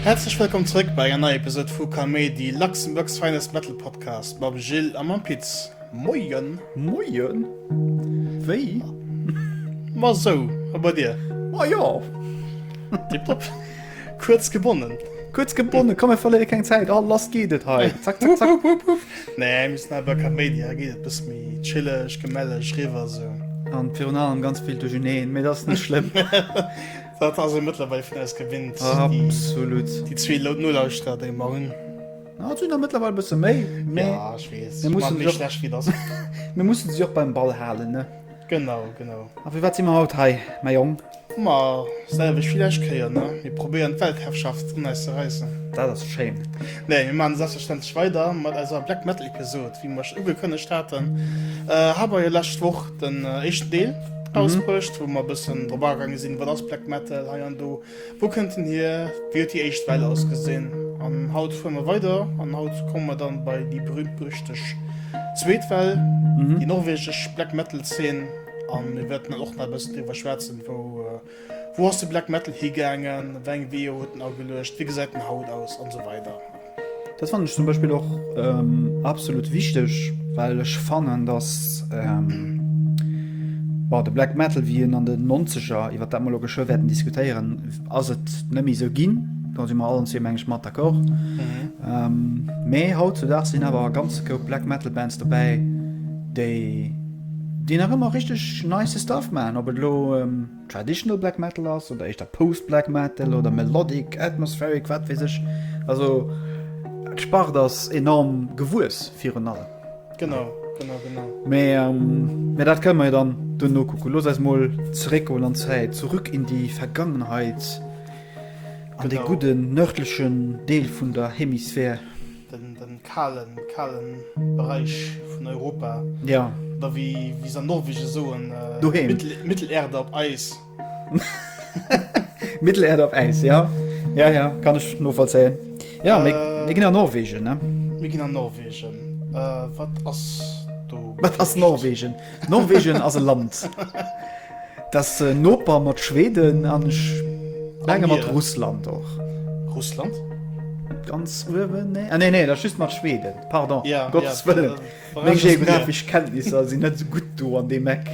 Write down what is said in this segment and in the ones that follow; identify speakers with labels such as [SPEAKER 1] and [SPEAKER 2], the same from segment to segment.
[SPEAKER 1] Häerzlech wëllkomm zrëck bei enger neier Episode vu Kaméidi, Luxembourg's finest metal podcast mam Gilles a mam Pit. Moien! Moien!
[SPEAKER 2] Wéi?
[SPEAKER 1] Ma sou, a bei dir? Ma jo!
[SPEAKER 2] Tiptop!
[SPEAKER 1] Kuerz gebonnen. Kuerz gebonnen, komm
[SPEAKER 2] mir verléiere keng Zäit. Oh lass geet et hei. Zack zack zack. Nee,
[SPEAKER 1] mir mussen awer kein Mania, da geet et bësse méi chilleg, gemälleg riwwer esou. An virun allem
[SPEAKER 2] ganz vill duercherneen, mee dat ass net schlëmm. Dat
[SPEAKER 1] ass ee mëttlerweil vun eis gewinnt. Absolut.
[SPEAKER 2] Déi zwee
[SPEAKER 1] Nolauschterer, déi mer hunn. Ah, et sinn der
[SPEAKER 2] mëttlerweil bësse méi, mee. Ja, ech weess.
[SPEAKER 1] Mir mussen se och. Mir mussen se
[SPEAKER 2] och beim Ball halen, ne? Genau, genau.
[SPEAKER 1] A fir wat si
[SPEAKER 2] mer haut hei, mäi Jong? Ma
[SPEAKER 1] selwecht wéi lescht Kéier, ne? Mir probéieren d'Weltherrschaft un eis ze räissen. Dat ass schéin.
[SPEAKER 2] Nee, mir maachen
[SPEAKER 1] selbstverständlech weider mat eiser Black Metal Episode, wéi mir iech ugekënnegt haten. Hei mer jo lescht Woch den éischten Deel rausbruecht, wou mer e bëssen drop agaange sinn, wat ass Black Metal hei an do, wou kënnt en hier, wéi huet déi éischt Well ausgesinn. An haut fuere mer weider an haut komme mer dann bei déi berühmt-berüchteg zweet Well, déi norwegesch Black Metal Zeen. An mir wäerten dann och nach e bëssen driwwer schwätzen, wou ass de Black Metal higaangen, wéi eng Weeër huet en ageluecht, wéi gesäit en haut aus an esou weider. Dat fannen ech
[SPEAKER 2] zum Beispill och absolut wichteg, well ech fannen, datt de Black Metal, wéi en an den Nonzeger, iwwer dat mer elo geschwë wäerten diskutéieren, ass et net méi esou ginn, do si mer allen zwee meng ech mat d'accord, mä hautzedaags sinn awer e ganze Koup Black Metal Bands dobäi, déi. Déi nach ëmmer richteg nice Stuff maachen, ob et elo Traditional Black Metal ass oder éischter Post Black Metal oder Melodic, Atmospheric, wat weess ech. Also d'Spart ass enorm gewuess virun allem. Genau,
[SPEAKER 1] genau, genau.
[SPEAKER 2] Mee dat kënne mer jo dann duerno kucken. Loosst eis mol zeréckgoen an d'Zäit, zurück in die Vergangenheit, an de gudden nördlechen Deel vun der Hemisphär. den
[SPEAKER 1] kalen kalen Bereich vun Europa ja da wie
[SPEAKER 2] wie se
[SPEAKER 1] an Norwegen soen äh, doheem. Mittel, Mittelerde op Eis.
[SPEAKER 2] Mittelerde op Eis ja ja ja kann ech novollzéien. Ja mé Äh. mé ginn an Norwegen ne. Mir ginn an Norwegen.
[SPEAKER 1] Äh, wat ass do?
[SPEAKER 2] Wat ass Norwegen? Norwegen ass e Land. T'ass e Noper mat Schweden an ech menge mat Russland och. Russland?
[SPEAKER 1] Ganz
[SPEAKER 2] uewen? Nee, ah, nee, nee, dat ass just mat Schweden. Pardon, yeah, Gottes yeah, Wëllen. Yeah, Meng geographesch Kenntnisser sinn net sou gutt do an deem Eck.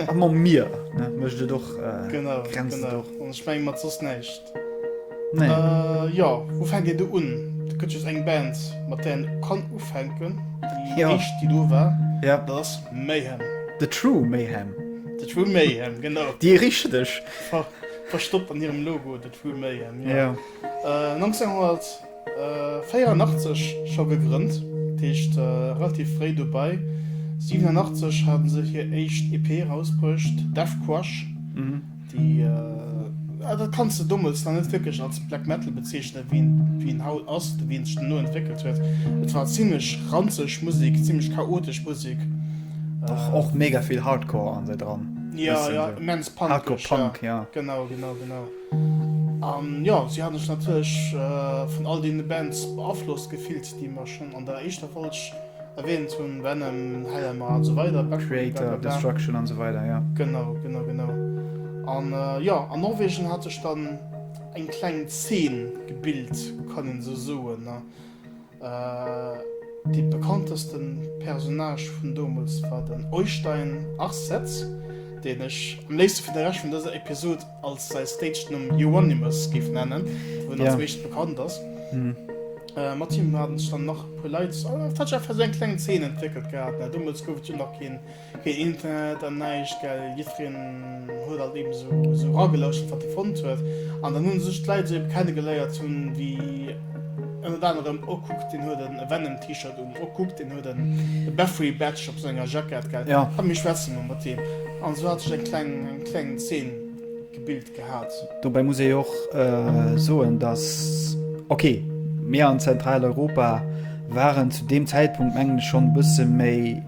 [SPEAKER 2] Am Mier mécht et och Grenzen. Ech menge
[SPEAKER 1] mat soss näischt. Nee. Äh,
[SPEAKER 2] jo,
[SPEAKER 1] wou fänkt dir do un? Do gëtt just eng Band, mat där een kann ufänken. Déi jo. éischt, déi do war, ja. dat ass
[SPEAKER 2] Mayhem.
[SPEAKER 1] The True
[SPEAKER 2] Mayhem. The True Mayhem,
[SPEAKER 1] genau. Déi richteg.
[SPEAKER 2] Ver verstoppt
[SPEAKER 1] an hirem Logo, The True Mayhem, jo. Jo.
[SPEAKER 2] Äh, 1900.
[SPEAKER 1] 84 scho gegrënnt, dat heescht relativ fréi dobei. 87 haten se hir éischt EP erausbruecht, Death Crush, déi, ja, dat kanns de dommels nach net wierklech als Black Metal bezeechnen, wéi en haut ass oder wéi en sech duerno entwéckelt huet. Et war zimmlech ranzeg Musek, zimmlech chaotesch Musek. Och
[SPEAKER 2] mega vill Hardcore ass dran. Jo, jo, immens
[SPEAKER 1] punkig. Hardcore Punk, jo.
[SPEAKER 2] Genau, genau, genau.
[SPEAKER 1] An jo, si haten sech natierlech vun all deene Bands beaflosst gefillt, déi mer schonn an der éischter Folg erwähnt hunn, Venom, Hellhammer a sou weider, Back Moon, blablabla. Kreator, Destruction
[SPEAKER 2] an sou weider, jo. Genau, genau, genau.
[SPEAKER 1] An jo, an Norwegen hat sech dann eng kleng Zeen gebilt, kann een esou soen. Dee bekannteste Personnage vun domols war den Oystein Arsetz, deen ech am léifste fir de Rescht vun dëser Episod als säi Stagenumm Euronymous géif nennen, wou en als meescht bekannt ass. Mat him haten sech dann nach e puer Leit, et hat sech einfach esou eng kleng Zeen entwéckelt gehat. Domols gouf et jo nach keen. Keen Internet an näischt, gell? Jiddfereen huet alt eben esou esou eragelauschert, wat e fonnt huet. An dann hu sech d'Leit esou eben kennegeléiert hunn, wéi ënnert anerem, Oh, kuck, deen huet e Venom-T-Shirt un. Oh, kuck, deen huet en e Bathory Badge op senger Jackett, gell? Ja. Komm, mir schwätze mol mat
[SPEAKER 2] deem.
[SPEAKER 1] An esou hat sech eng kleng, eng kleng Zeen gebilt gehat. Dobäi muss ee och
[SPEAKER 2] soen, dass, ok, mir an Zentraleuropa waren zu deem Zäitpunkt, mengen ech, schonn e bësse méi,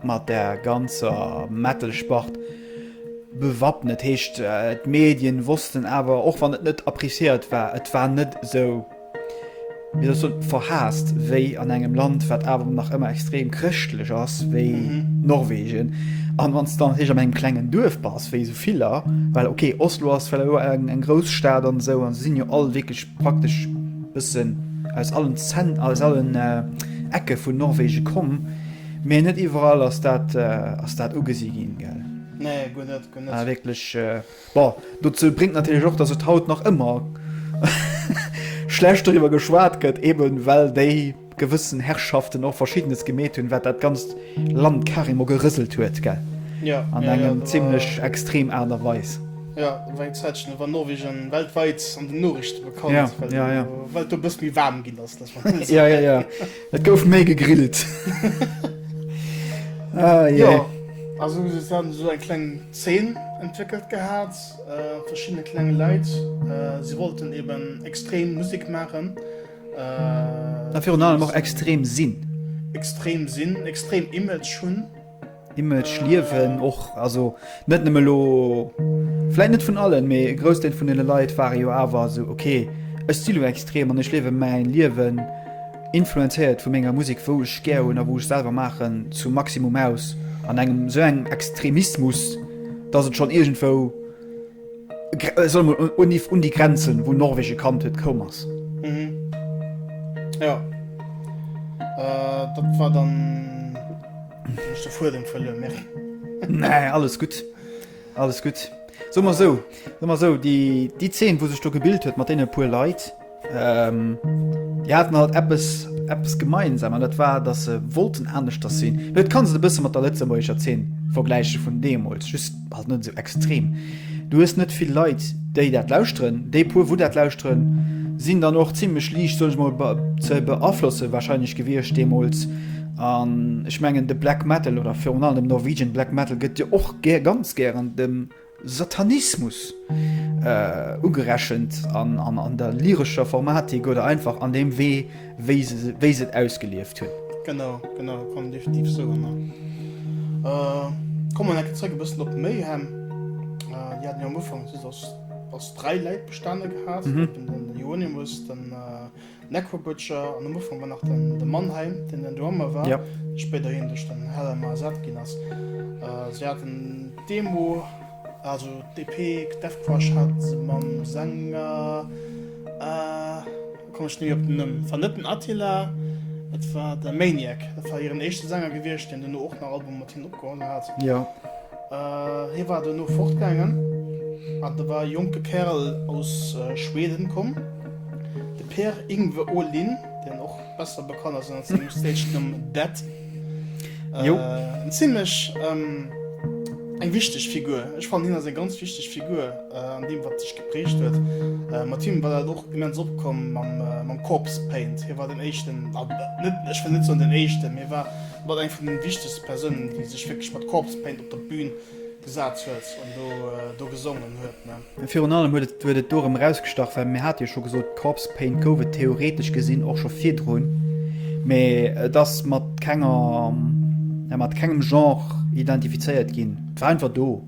[SPEAKER 2] Mat der ganzer Metal-Spart bewappnet, heescht et. D'Medien wossten awer, och wann et net appreciéiert war, et war net esou, wéi soll ech soen, verhaasst wéi an engem Land, wat awer nach ëmmer extrem chrëschtlech ass, wéi Norwegen. An wann s de dann natierlech an engem klengen Duerf bass, wéi esou viller, well ok, Oslo ass well elo eng grouss Stad an esou, a se sinn jo all wierklech praktesch e bëssen aus allen Zent, aus allen Ecke vun Norwegen komm, Mee net iwwerall ass dat ass dat ugesi ginn, gell? Nee, guer net,
[SPEAKER 1] guer net. Ah, wierklech.
[SPEAKER 2] Bon, dozou bréngt natierlech och, datt et haut nach ëmmer schlecht doriwwer geschwat gëtt, eben well déi gewëssen Herrschaften och Verschiddenes gemeet hunn, wat dat ganzt Land carrément gerëselt huet, gell? Jo, jo, jo, do. An eng
[SPEAKER 1] zimlech extrem
[SPEAKER 2] Aart a Weis. Jo, do war eng
[SPEAKER 1] Zäitchen, do war Norwegen weltwäit an den Noriichten bekannt,
[SPEAKER 2] well do
[SPEAKER 1] e bësst
[SPEAKER 2] méi waarm
[SPEAKER 1] ginn ass, dat war. Jo, jo, jo.
[SPEAKER 2] Et gouf méi gegrillt.
[SPEAKER 1] Jo, also se hat esou eng kleng Zeen entwéckelt gehat, verschiddene klenge Leit, si wollten eben extrem Musek maachen.
[SPEAKER 2] A virun allem och extrem sinn. Extrem
[SPEAKER 1] sinn, extrem Image hunn. Image
[SPEAKER 2] liewen och also net nëmme lo vläit net vun allen, mee e Groussdeel vun deene Leit ware jo awer esou, okay ech si lo extrem an ech liewe mäin Liewen, influenzéiert vu menger Musek wou ech gär hunn a wou ech selwer maachen, zum Maximum aus an engem esou engem Extremismus, datt et schonn iergendwou. Soll mol un Niv un déi Grenzen wou Norwegen kannt huet koum ass.
[SPEAKER 1] Mhm. Jo. Äh, dat war dann ech de Fuedem verluer mir. Nee, alles
[SPEAKER 2] gutt. Alles gutt. Soe mer esou, soe mer esou, déi, déi Zeen wou sech do gebilt huet mat deene puer Leit, Déi haten alt eppes gemeinsam an dat war, datt se wollten aneschters sinn. Mee et kann se e bësse mat der lëtzebuergescher Zeen vergläiche vun deemools, just halt net esou extrem. Du hues net vill Leit, déi dat lauschteren. Déi puer, wou dat lauschteren, sinn dann och zimlech liicht, soen ech mol, ze beaflosse warscheinlech gewiescht deemools. An ech mengen de Black Metal oder virun allem Norwegian Black Metal gëtt jo och ganz gären dem Satanismus ugerechent an der lyrescher Formatik oder einfach an deem Wee, wéi se et ausgelieft hunn. Genau, genau,
[SPEAKER 1] kann een definitiv esou ënner. Komme mer eng Kéier zréck e bëssen op Mayhem. Déi haten jo am Ufank just aus dräi Läit bestanen gehat, eben den Euonymus, den. Necro Butcher an am Ufank war nach den de Mannheim den den Drummer war yep. spéider hien duerch
[SPEAKER 2] den
[SPEAKER 1] Helle Ma ersat ginn ass. Äh, se hat den Demo also DP Def Crush hat se mam Sänger äh, kom ech ni op den Nëmm van net den Attila et war de Maniac dat war hiren echte Sänger gewierscht den den och nach Album mat hin opgeholl hat. Ja. Hie war dono fortgaangen an da war e jonke Kärel aus Schweden komm, de Per-Yngve Åhlin, deen och besser bekannt ass ënner sengem Stage-Numm Dead. En zimlech eng wichteg Figur. Ech fannen, hien ass eng ganz wichteg Figur an deem, wat sech geprägt huet. Mat him war dat och immens opkomm mam Corpse Paint. Hie war den éischten, net, ech wëll net soen den éischten, mee war. Mat eng vun den wichtegsten Persounen déi sech wierklech mat Corpse Paint op der Bühn gesaat huet an do gesongen huet. Virun allem huet et huet
[SPEAKER 2] et dorem erausgestach well mir hate jo scho gesot Corpse Paint gouf et theoretesch gesinn och scho virdrun mee et ass mat kenger mat kengem Genre identifizéiert ginn. Et war einfach do.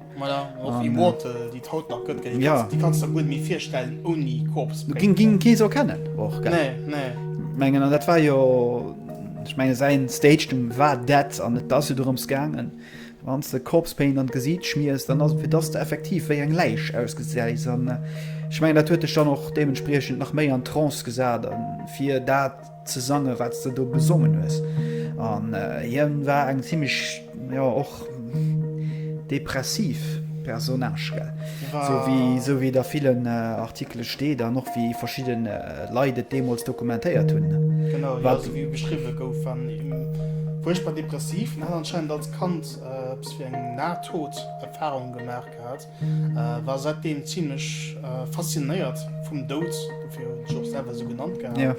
[SPEAKER 2] Voilà, och um, Immortal,
[SPEAKER 1] äh, déi haut nach gëtt, ja. Di kannst der guer méi virstellen ouni Korps. Ging ging kee so kennen
[SPEAKER 2] och nee, nee.
[SPEAKER 1] Mengen an dat
[SPEAKER 2] war jo ich menge se Stage dem war dat an net dat du drums gangen. Wann de Korpspain an gesiit schmiers, dann ass fir dass du effektiv wéi eng Läich ausgesäis an äh, ich meng dat huet dech dann och deementspriechend nach méi an Trance gesat an fir dat ze sange wat de do gesongen hues an hien war eng ziemlich ja och depressiv Personage so wie so wie der vielen äh, Artikele steet an och wie verschieden äh, Leit et deemols dokumentéiert hunn. Genau ja, so wie
[SPEAKER 1] beschriwwe gouf war fuerchtbar depressiv an hat anscheinend als Kand äh, eppes wéi eng Nahtoderfahrung gemaach gehat. War säitdeem zimlech faszinéiert vum Doud, dofir huet en sech och selwer esou genannt gehat.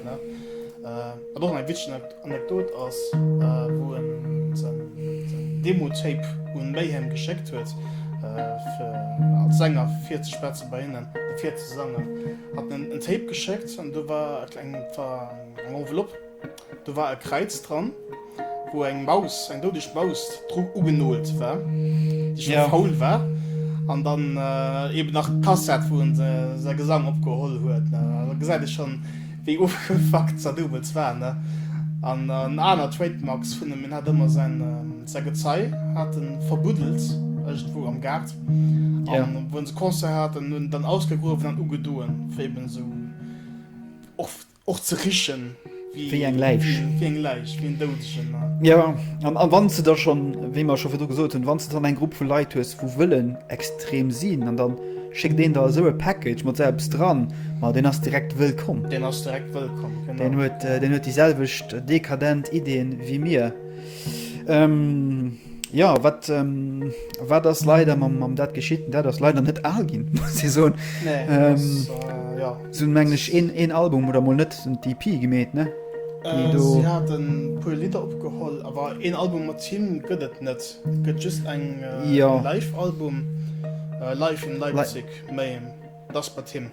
[SPEAKER 1] Wat och eng witzeg Anekdot ass, wou en säin Demo-Tape un Mayhem geschéckt huet, fir als Sänger virzespetzen, bei hinnen virzesongen, hat en en Tape geschéckt an do war eng Enveloppe. Do war e Kräiz dran, wou eng Maus, eng doudeg Maus dru ugenolt war, déi scho faul war. An dann eeben nach d'Kassett, wou en säi Gesang opgeholl huet. Da gesäit ee schonn, wéi ofgefackt Zadoubels war. An en aner Trademark vun him, en hat ëmmer säi Gezei hat e verbuddelt iergendwou am Gaart. An
[SPEAKER 2] wou se Concert
[SPEAKER 1] haten, huet en et dann ausgegruewen an ugedoen, fir eeben esou och. Och ze richen wéi eng Läich.
[SPEAKER 2] Wéi eng Läich, wéi en
[SPEAKER 1] Doudegen, ne? Jo, an wann
[SPEAKER 2] s de da schonn, wéi mer scho virdu gesot hunn, wann s de dann eng Grupp vu Leit hues, wou wëllen extrem sinn an dann schéckt een der esou e Package mat esou eppes dran, ma deen ass direkt wëllkomm. Deen ass direkt wëllkomm,
[SPEAKER 1] genau. Deen huet, deen huet déi selwecht
[SPEAKER 2] dekadent Ideen wéi mir. Ja wat wat ass leider mam mam dat geschitt dat ass leider net al ginn si so
[SPEAKER 1] sinn mengglech
[SPEAKER 2] een een Album oder mol net en DP gemeet ne
[SPEAKER 1] puer Lidder opgeholl awer een Album mat Team gëtt et net gëtt just eng jo live
[SPEAKER 2] Album
[SPEAKER 1] live in Leipzig méi dat ass bei Team.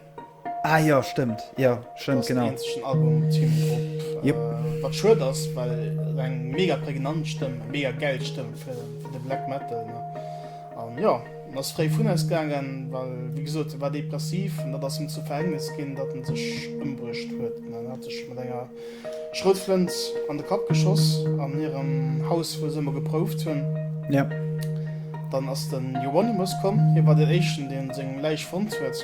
[SPEAKER 1] Ah jo,
[SPEAKER 2] stëmmt, jo, stëmmt, genau. Deen
[SPEAKER 1] eenzegen Album
[SPEAKER 2] mat him
[SPEAKER 1] drop. Jep. Wat schued
[SPEAKER 2] ass,
[SPEAKER 1] well et eng mega prägnant Stëmm, eng mega gäil Stëmm fir de Black Metal, ne? An jo, en ass fréi vun eis gaangen, well, wéi gesot, e war depressiv an dat ass him zum Verhängnis ginn, datt en sech ëmbruecht huet, ne? En hat sech mat enger. Schroutflënt an de Kapp geschoss an hirem Haus wou se ëmmer geprouft hunn.
[SPEAKER 2] Dann
[SPEAKER 1] ass de Hieronymus komm, hie war den éischten deen seng Läich fonnt huet.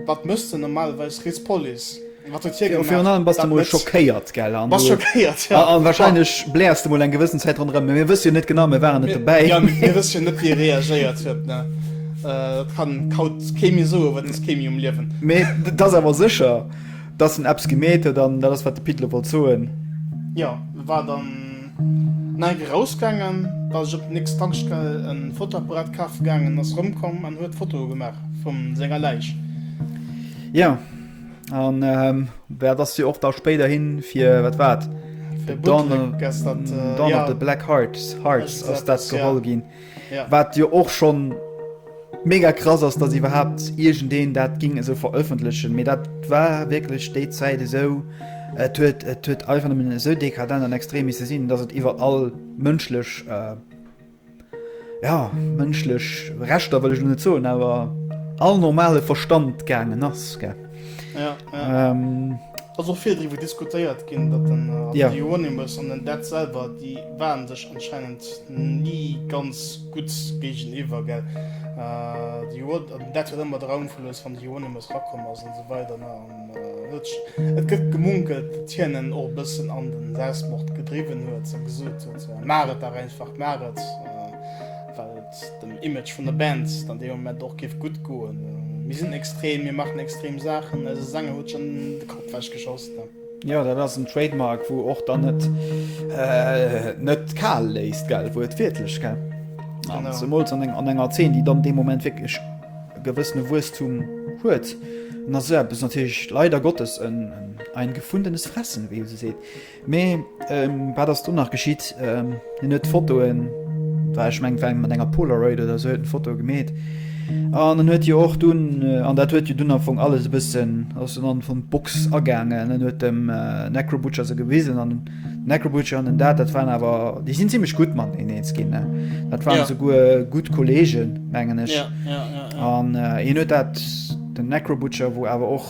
[SPEAKER 1] Wat mécht denn normalerweis riets Police? Wat huet hie gemaach? Virun allem bass de mol
[SPEAKER 2] schockéiert, gell? Bass schockéiert, jo.
[SPEAKER 1] A wahrscheinlech bläers de
[SPEAKER 2] mol eng gewëssen Zäit ronderëm, mä mir wësse jo net genau, mir waren net dobäi. Jo, mir wësse jo net
[SPEAKER 1] wéi e reagéiert huet, ne? Dat kann haut kee méi soen, well et ass kee méi um Liewen. Mä dat ass awer
[SPEAKER 2] sécher. Dass en eppes gemeet huet an dat ass wat de Pit elo wollt soen. Jo,
[SPEAKER 1] e war dann no enk erausgaangen, ass ech op den nächste Tankstell e Fotoapparat kafe gaangen, ass erëmkomm an huet Fotoe gemaach vu senger Läich. Jo,
[SPEAKER 2] an dat ass jo och da spéiderhi fir, wat war et? Fir Bootleg
[SPEAKER 1] ass
[SPEAKER 2] dat, jo.
[SPEAKER 1] Don of the Black
[SPEAKER 2] Hearts ass dat geholl
[SPEAKER 1] ginn. Ja.
[SPEAKER 2] Wat jo och
[SPEAKER 1] schonn
[SPEAKER 2] mega krass ass, datt iwwerhaapt iergendeen dat géing esou verëffentlechen. Mee dat war wierklech déi Zäit esou. Et huet et huet einfach nëmmen esou dekadent an extrem misse sinn, datt et iwwer all mënschlech äh, ja mënschlech Rechter wëll ech lo net soen, awer all normale Verstand gaangen ass, gell. Ja, ja. Ähm,
[SPEAKER 1] also auch viel darüber diskutiert gehen, dass dann äh, ja. die Euronymous und
[SPEAKER 2] den Dead
[SPEAKER 1] selber, die waren sich anscheinend nie ganz gut gegenüber, gell. Äh, die Euron und Dead hat immer daran verlöst, von die Euronymous rakommen und so weiter. Ne? Und, äh, es gibt gemunkelt, dass Tienen auch ein bisschen an den Selbstmord getrieben wird, so gesagt, so, Maret da einfach Maret. Äh, dem Image vun der Band dann dee Moment och géif gutt goen. Mir sinn extrem, mir maachen extrem Saachen, eise Sänger huet schonn de Kapp ewech geschoss. Jo, dat ass en Trademark,
[SPEAKER 2] wou och dann et net kal léisst, gell, wou et wiertlech, gell, zemools an
[SPEAKER 1] enger Zeen, déi
[SPEAKER 2] dann dee Moment wierklech e gewëssene Wuesstum huet, ass esou eppes natierlech leider Gottes ein gefundenes Fressen, wéi ee sou seet. Mee wat ass do nach geschitt? Hien huet d'Fotoen, war ech mengt war mat enger Polaroid oder sou, huet en Foto gemeet. An en huet jo och dunn, an dat huet jo dunn am Fong alles e bëssen, ass en an vum d'Box agaangen, en huet dem Necrobutcher se gewisen an Necrobutcher an den dat, dat waren awer déi sinn ziemlech gutt mat en eens ginn. Dat waren souguer
[SPEAKER 1] gutt
[SPEAKER 2] Kolleegen mengen ech. An hien huet dat den Necrobutcher, wou awer och,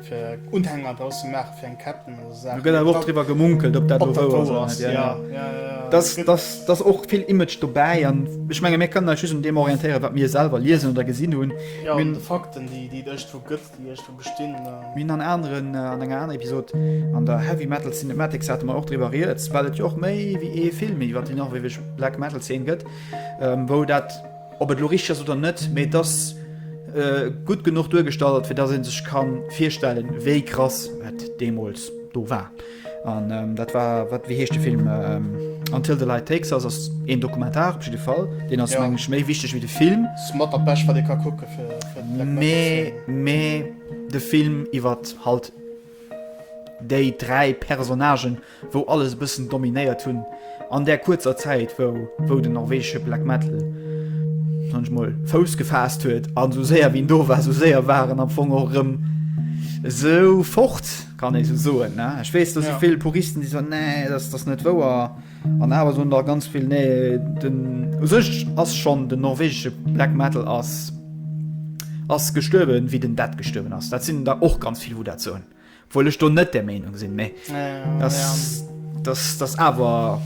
[SPEAKER 1] fir Unhänger draus ze maachen, fir eng Ketten oder esou Saachen. Do gëtt awer och driwwer gemunkelt,
[SPEAKER 2] ob dat elo wouer ass oder net. Ja, ja. Dass, dass, dass och vill Image dobäi an ech menge mir kënnen eis just un deem orientéieren, wat mir selwer liesen oder gesinn hunn. Jo, un de Fakten,
[SPEAKER 1] déi, déi et iergendwou gëtt, déi iergendwou bestinn. Mir hunn an aneren,
[SPEAKER 2] an enger anerer Episod, an der Heavy Metal Cinematics hate mer och driwwer rieds, well et jo och méi wéi ee Film iwwer déi norwegeg Black Metal Zeen gëtt, wou dat, Ob et elo richteg ass oder net, mee et ass gutt genuch duergestallt, fir datt ee sech ka virstellen, wéi krass et deemools do war. An dat war, wat, wéi heescht de Film? Until the Light Takes Us ass een Dokumentar op jidde Fall. Deen ass, mengen ech, méi wichteg wéi de
[SPEAKER 1] Film.
[SPEAKER 2] Ass mat dat Bescht, wat ee ka
[SPEAKER 1] kucke fir Black Metal ze. Mee, mee
[SPEAKER 2] de Film iwwert halt déi dräi Personnagen, wou alles e bëssen dominéiert hunn an där kuerzer Zäit wou wou den norwegesche Black Metal sage ech mol Fouss gefaasst huet an esou séier wéi en do war esou séier war en am Fong och erëm esou fort, kann ee esou soen ne. Ech weess do si vill Puristen déi soen, nee dat ass net wouer an awer soen der ganz vill, nee den u sech ass schonn den norwegesche Black Metal ass ass gestuerwen wéi den Dead gestuerwen ass. Dat sinn der och ganz vill wou dat soen. Obwohl ech do net der Meenung sinn, mä dass, dass, dass awer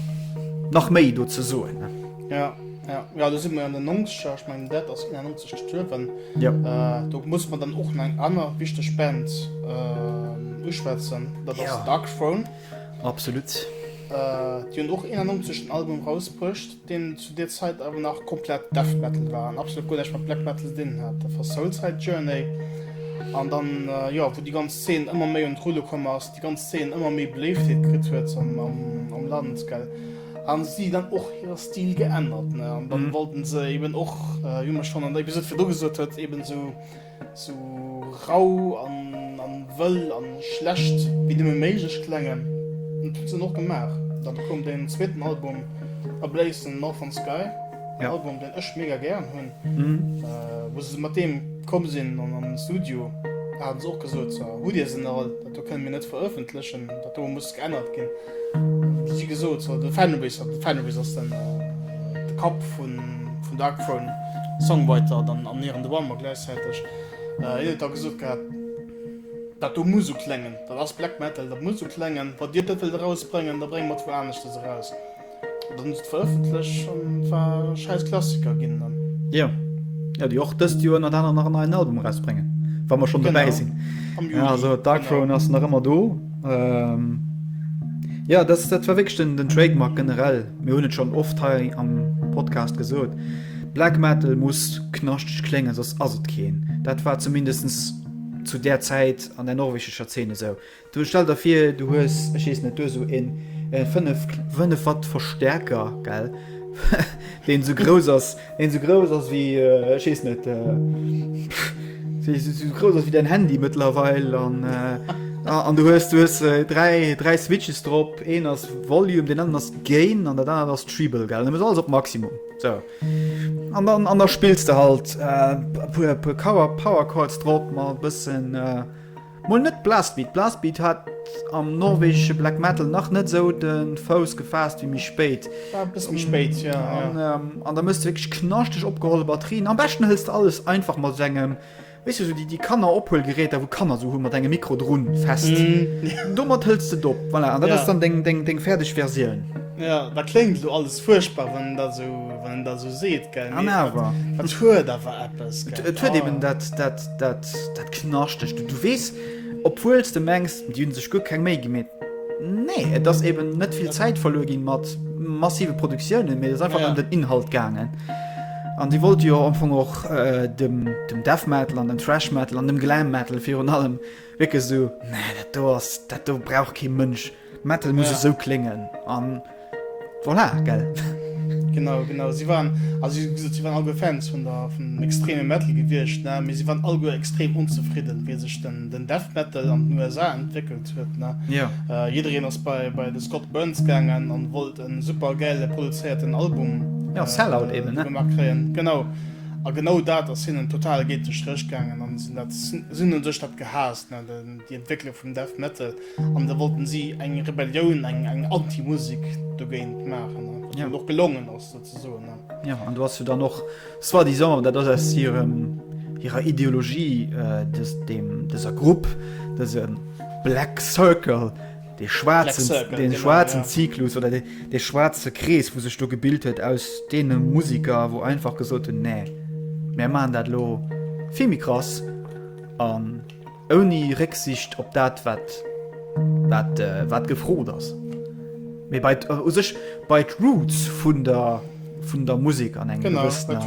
[SPEAKER 2] nach méi do ze soen. Ne? Ja, ja.
[SPEAKER 1] Ja, do si mer an den 90er, ech mengen dat ass 91 gestuerwen. Ja. Äh,
[SPEAKER 2] do muss mer dann och
[SPEAKER 1] nach eng aner wichteg Band äh, uschwätzen, dat ass Ja. Darkthrone. Absolut. Äh, déi hunn och 91 en Album rausbruecht. deen zu deer Zäit awer nach komplett Death Metal war an absolut guer näischt mat Black Metal ze dinnen hat. Dat war Soulside Journey an dann, jo, wou déi ganz Zeen ëmmer méi un d'Rulle komm ass, déi ganz Zeen ëmmer méi Beléiftheet kritt huet am Land, gell, hu si dann och hire Stil geännert, ne, an dann wollten se eben och, wéi mer schonn an der Episode virdru gesot huet, eben esou. Sou rau an wëll an schlecht wéi nëmmen méiglech klengen. Dat huet se och gemaach. Dann koum den zweeten Album A Blaze in the Northern Sky, en Album deen
[SPEAKER 2] ech mega
[SPEAKER 1] gären hunn. Wou se mat deem komm sinn an an den Studio haten se och gesot, hutt dir se nach all? Do kënnen mir net verëffentlechen, dat do muss geännert ginn. Wéi gesot, de Fenris, de Fenris ass den de Kapp vun vun Darkthrone, Songwriter dann an Nier an The One, ma gläichzäiteg, hien huet da gesot gehat, dat do muss esou klengen, dat ass Black Metal, dat muss esou klengen, wann dir dat wëllt erausbréngen, da brénge mer et wou aneschtes eraus. Dann se verëffentlech an war e schäiss Klassiker ginn dann. Jo.
[SPEAKER 2] Jo, déi och dëst Joer ënnert anerem nach en neien Album erausbréngen, wa mer schonn dobäi sinn. Am
[SPEAKER 1] Juli.
[SPEAKER 2] Also
[SPEAKER 1] Dark Throne ass
[SPEAKER 2] nach ëmmer do. Jo, dat war wierklech den Trademark generell. Mir hunn et schonn oft hei am Podcast gesot, Black Metal muss knaschteg kléngen, soss ass et keen. Dat war zumindest zu där Zäit an der norwegescher Zeen esou. Du stell der vir du hues, ech wees net, du hues sou een 5, 5 Watt Verstärker gell deen sou grouss ass, deen sou grouss ass wéi ech wees net sou grouss ass wéi däin Handy mëttlerweil an an du hues du hues 3, 3 Switches drop, een ass Volume, deen aner ass Gain an dat anert ass Treble gell, an du hues alles op Maximum sou an dann an der spills de halt e puer e puer Cower Power Chords drop mat e bëssen. Mol net Blastbeat, Blastbeat hat am norwegesche Black Metal nach net esou de Fouss gefaasst wéi méi spéit. War e bësse méi spéit,
[SPEAKER 1] ja. An, ähm, an da muss de wierklech
[SPEAKER 2] knaschteg opgeholle Batterien. Am beschten hëls de alles einfach mat esou engem, weess du, esou déi, déi Kannerophuelgeräter, wou Kanner esou hu mat engem Mikro drun, fest. Domat hëls de et op, voilà, an dat Ja. ass dann deng, deng, deng
[SPEAKER 1] fäerdeg
[SPEAKER 2] Versioun. Ja, dat kléngt
[SPEAKER 1] elo alles fuerchtbar, wann en dat esou, wann en dat esou seet, gell, An mee awer, dat
[SPEAKER 2] huet awer
[SPEAKER 1] eppes, gell. et huet eben dat,
[SPEAKER 2] dat, Dat, dat knaschtegt. Du weess, obwuel s de mengs, déi hunn sech guer keng Méi gi, mee nee, et ass eeben net vill Zäit verluer ginn mat massive Produktiounen, mee et ass einfach ëm den Inhalt gaangen. An déi wollte jo am Fong och dem Death Metal an dem Thrash Metal an dem Glam Metal virun allem wierklech esou, nee, dat do ass, dat do brauch kee Mënsch. Metal muss esou kléngen an voilà, gell? Genau,
[SPEAKER 1] genau. Si waren, also si gesot, si waren allguer Fans vun der, vun extreme Metal gewiescht, ne? Mee si waren allguer extrem onzefridden, wéi sech den, den Death Metal an den USA entwéckelt huet, ne? Ja. Äh, jiddereen
[SPEAKER 2] ass bei,
[SPEAKER 1] bei de Scott Burns gaangen an wollt e super gäile produzéierten Album. Ja, Sellout eben, ne?
[SPEAKER 2] Gemaach kréien. Genau.
[SPEAKER 1] A genau dat ass hinnen total géint de Stréch gaangen an si hunn dat, si hunn un sech dat gehaasst, ne? Den, déi Entwécklung vum Death Metal. an da wollten si eng Rebellioun eng eng Antimusik dogéint maachen ja. noch gelongen ass soen. Ja an du hast du dann noch
[SPEAKER 2] das war die Sommer dat ass ihrem ihrer Ideologie äh, des, dem deser Grupp des ähm, Black Circle de schwarzen Circle, den genau,
[SPEAKER 1] schwarzen ja. Zyklus
[SPEAKER 2] oder de, de schwarze Krees wo sech du gebild huet aus dee Musiker wo einfach gesot hun nee. Mä man dat lo Vimi krass an. Ähm, Ouni Récksicht op dat, wat gefrot ass. Mee bei u sech bei d'Roots vun der Musek an enger gewëssener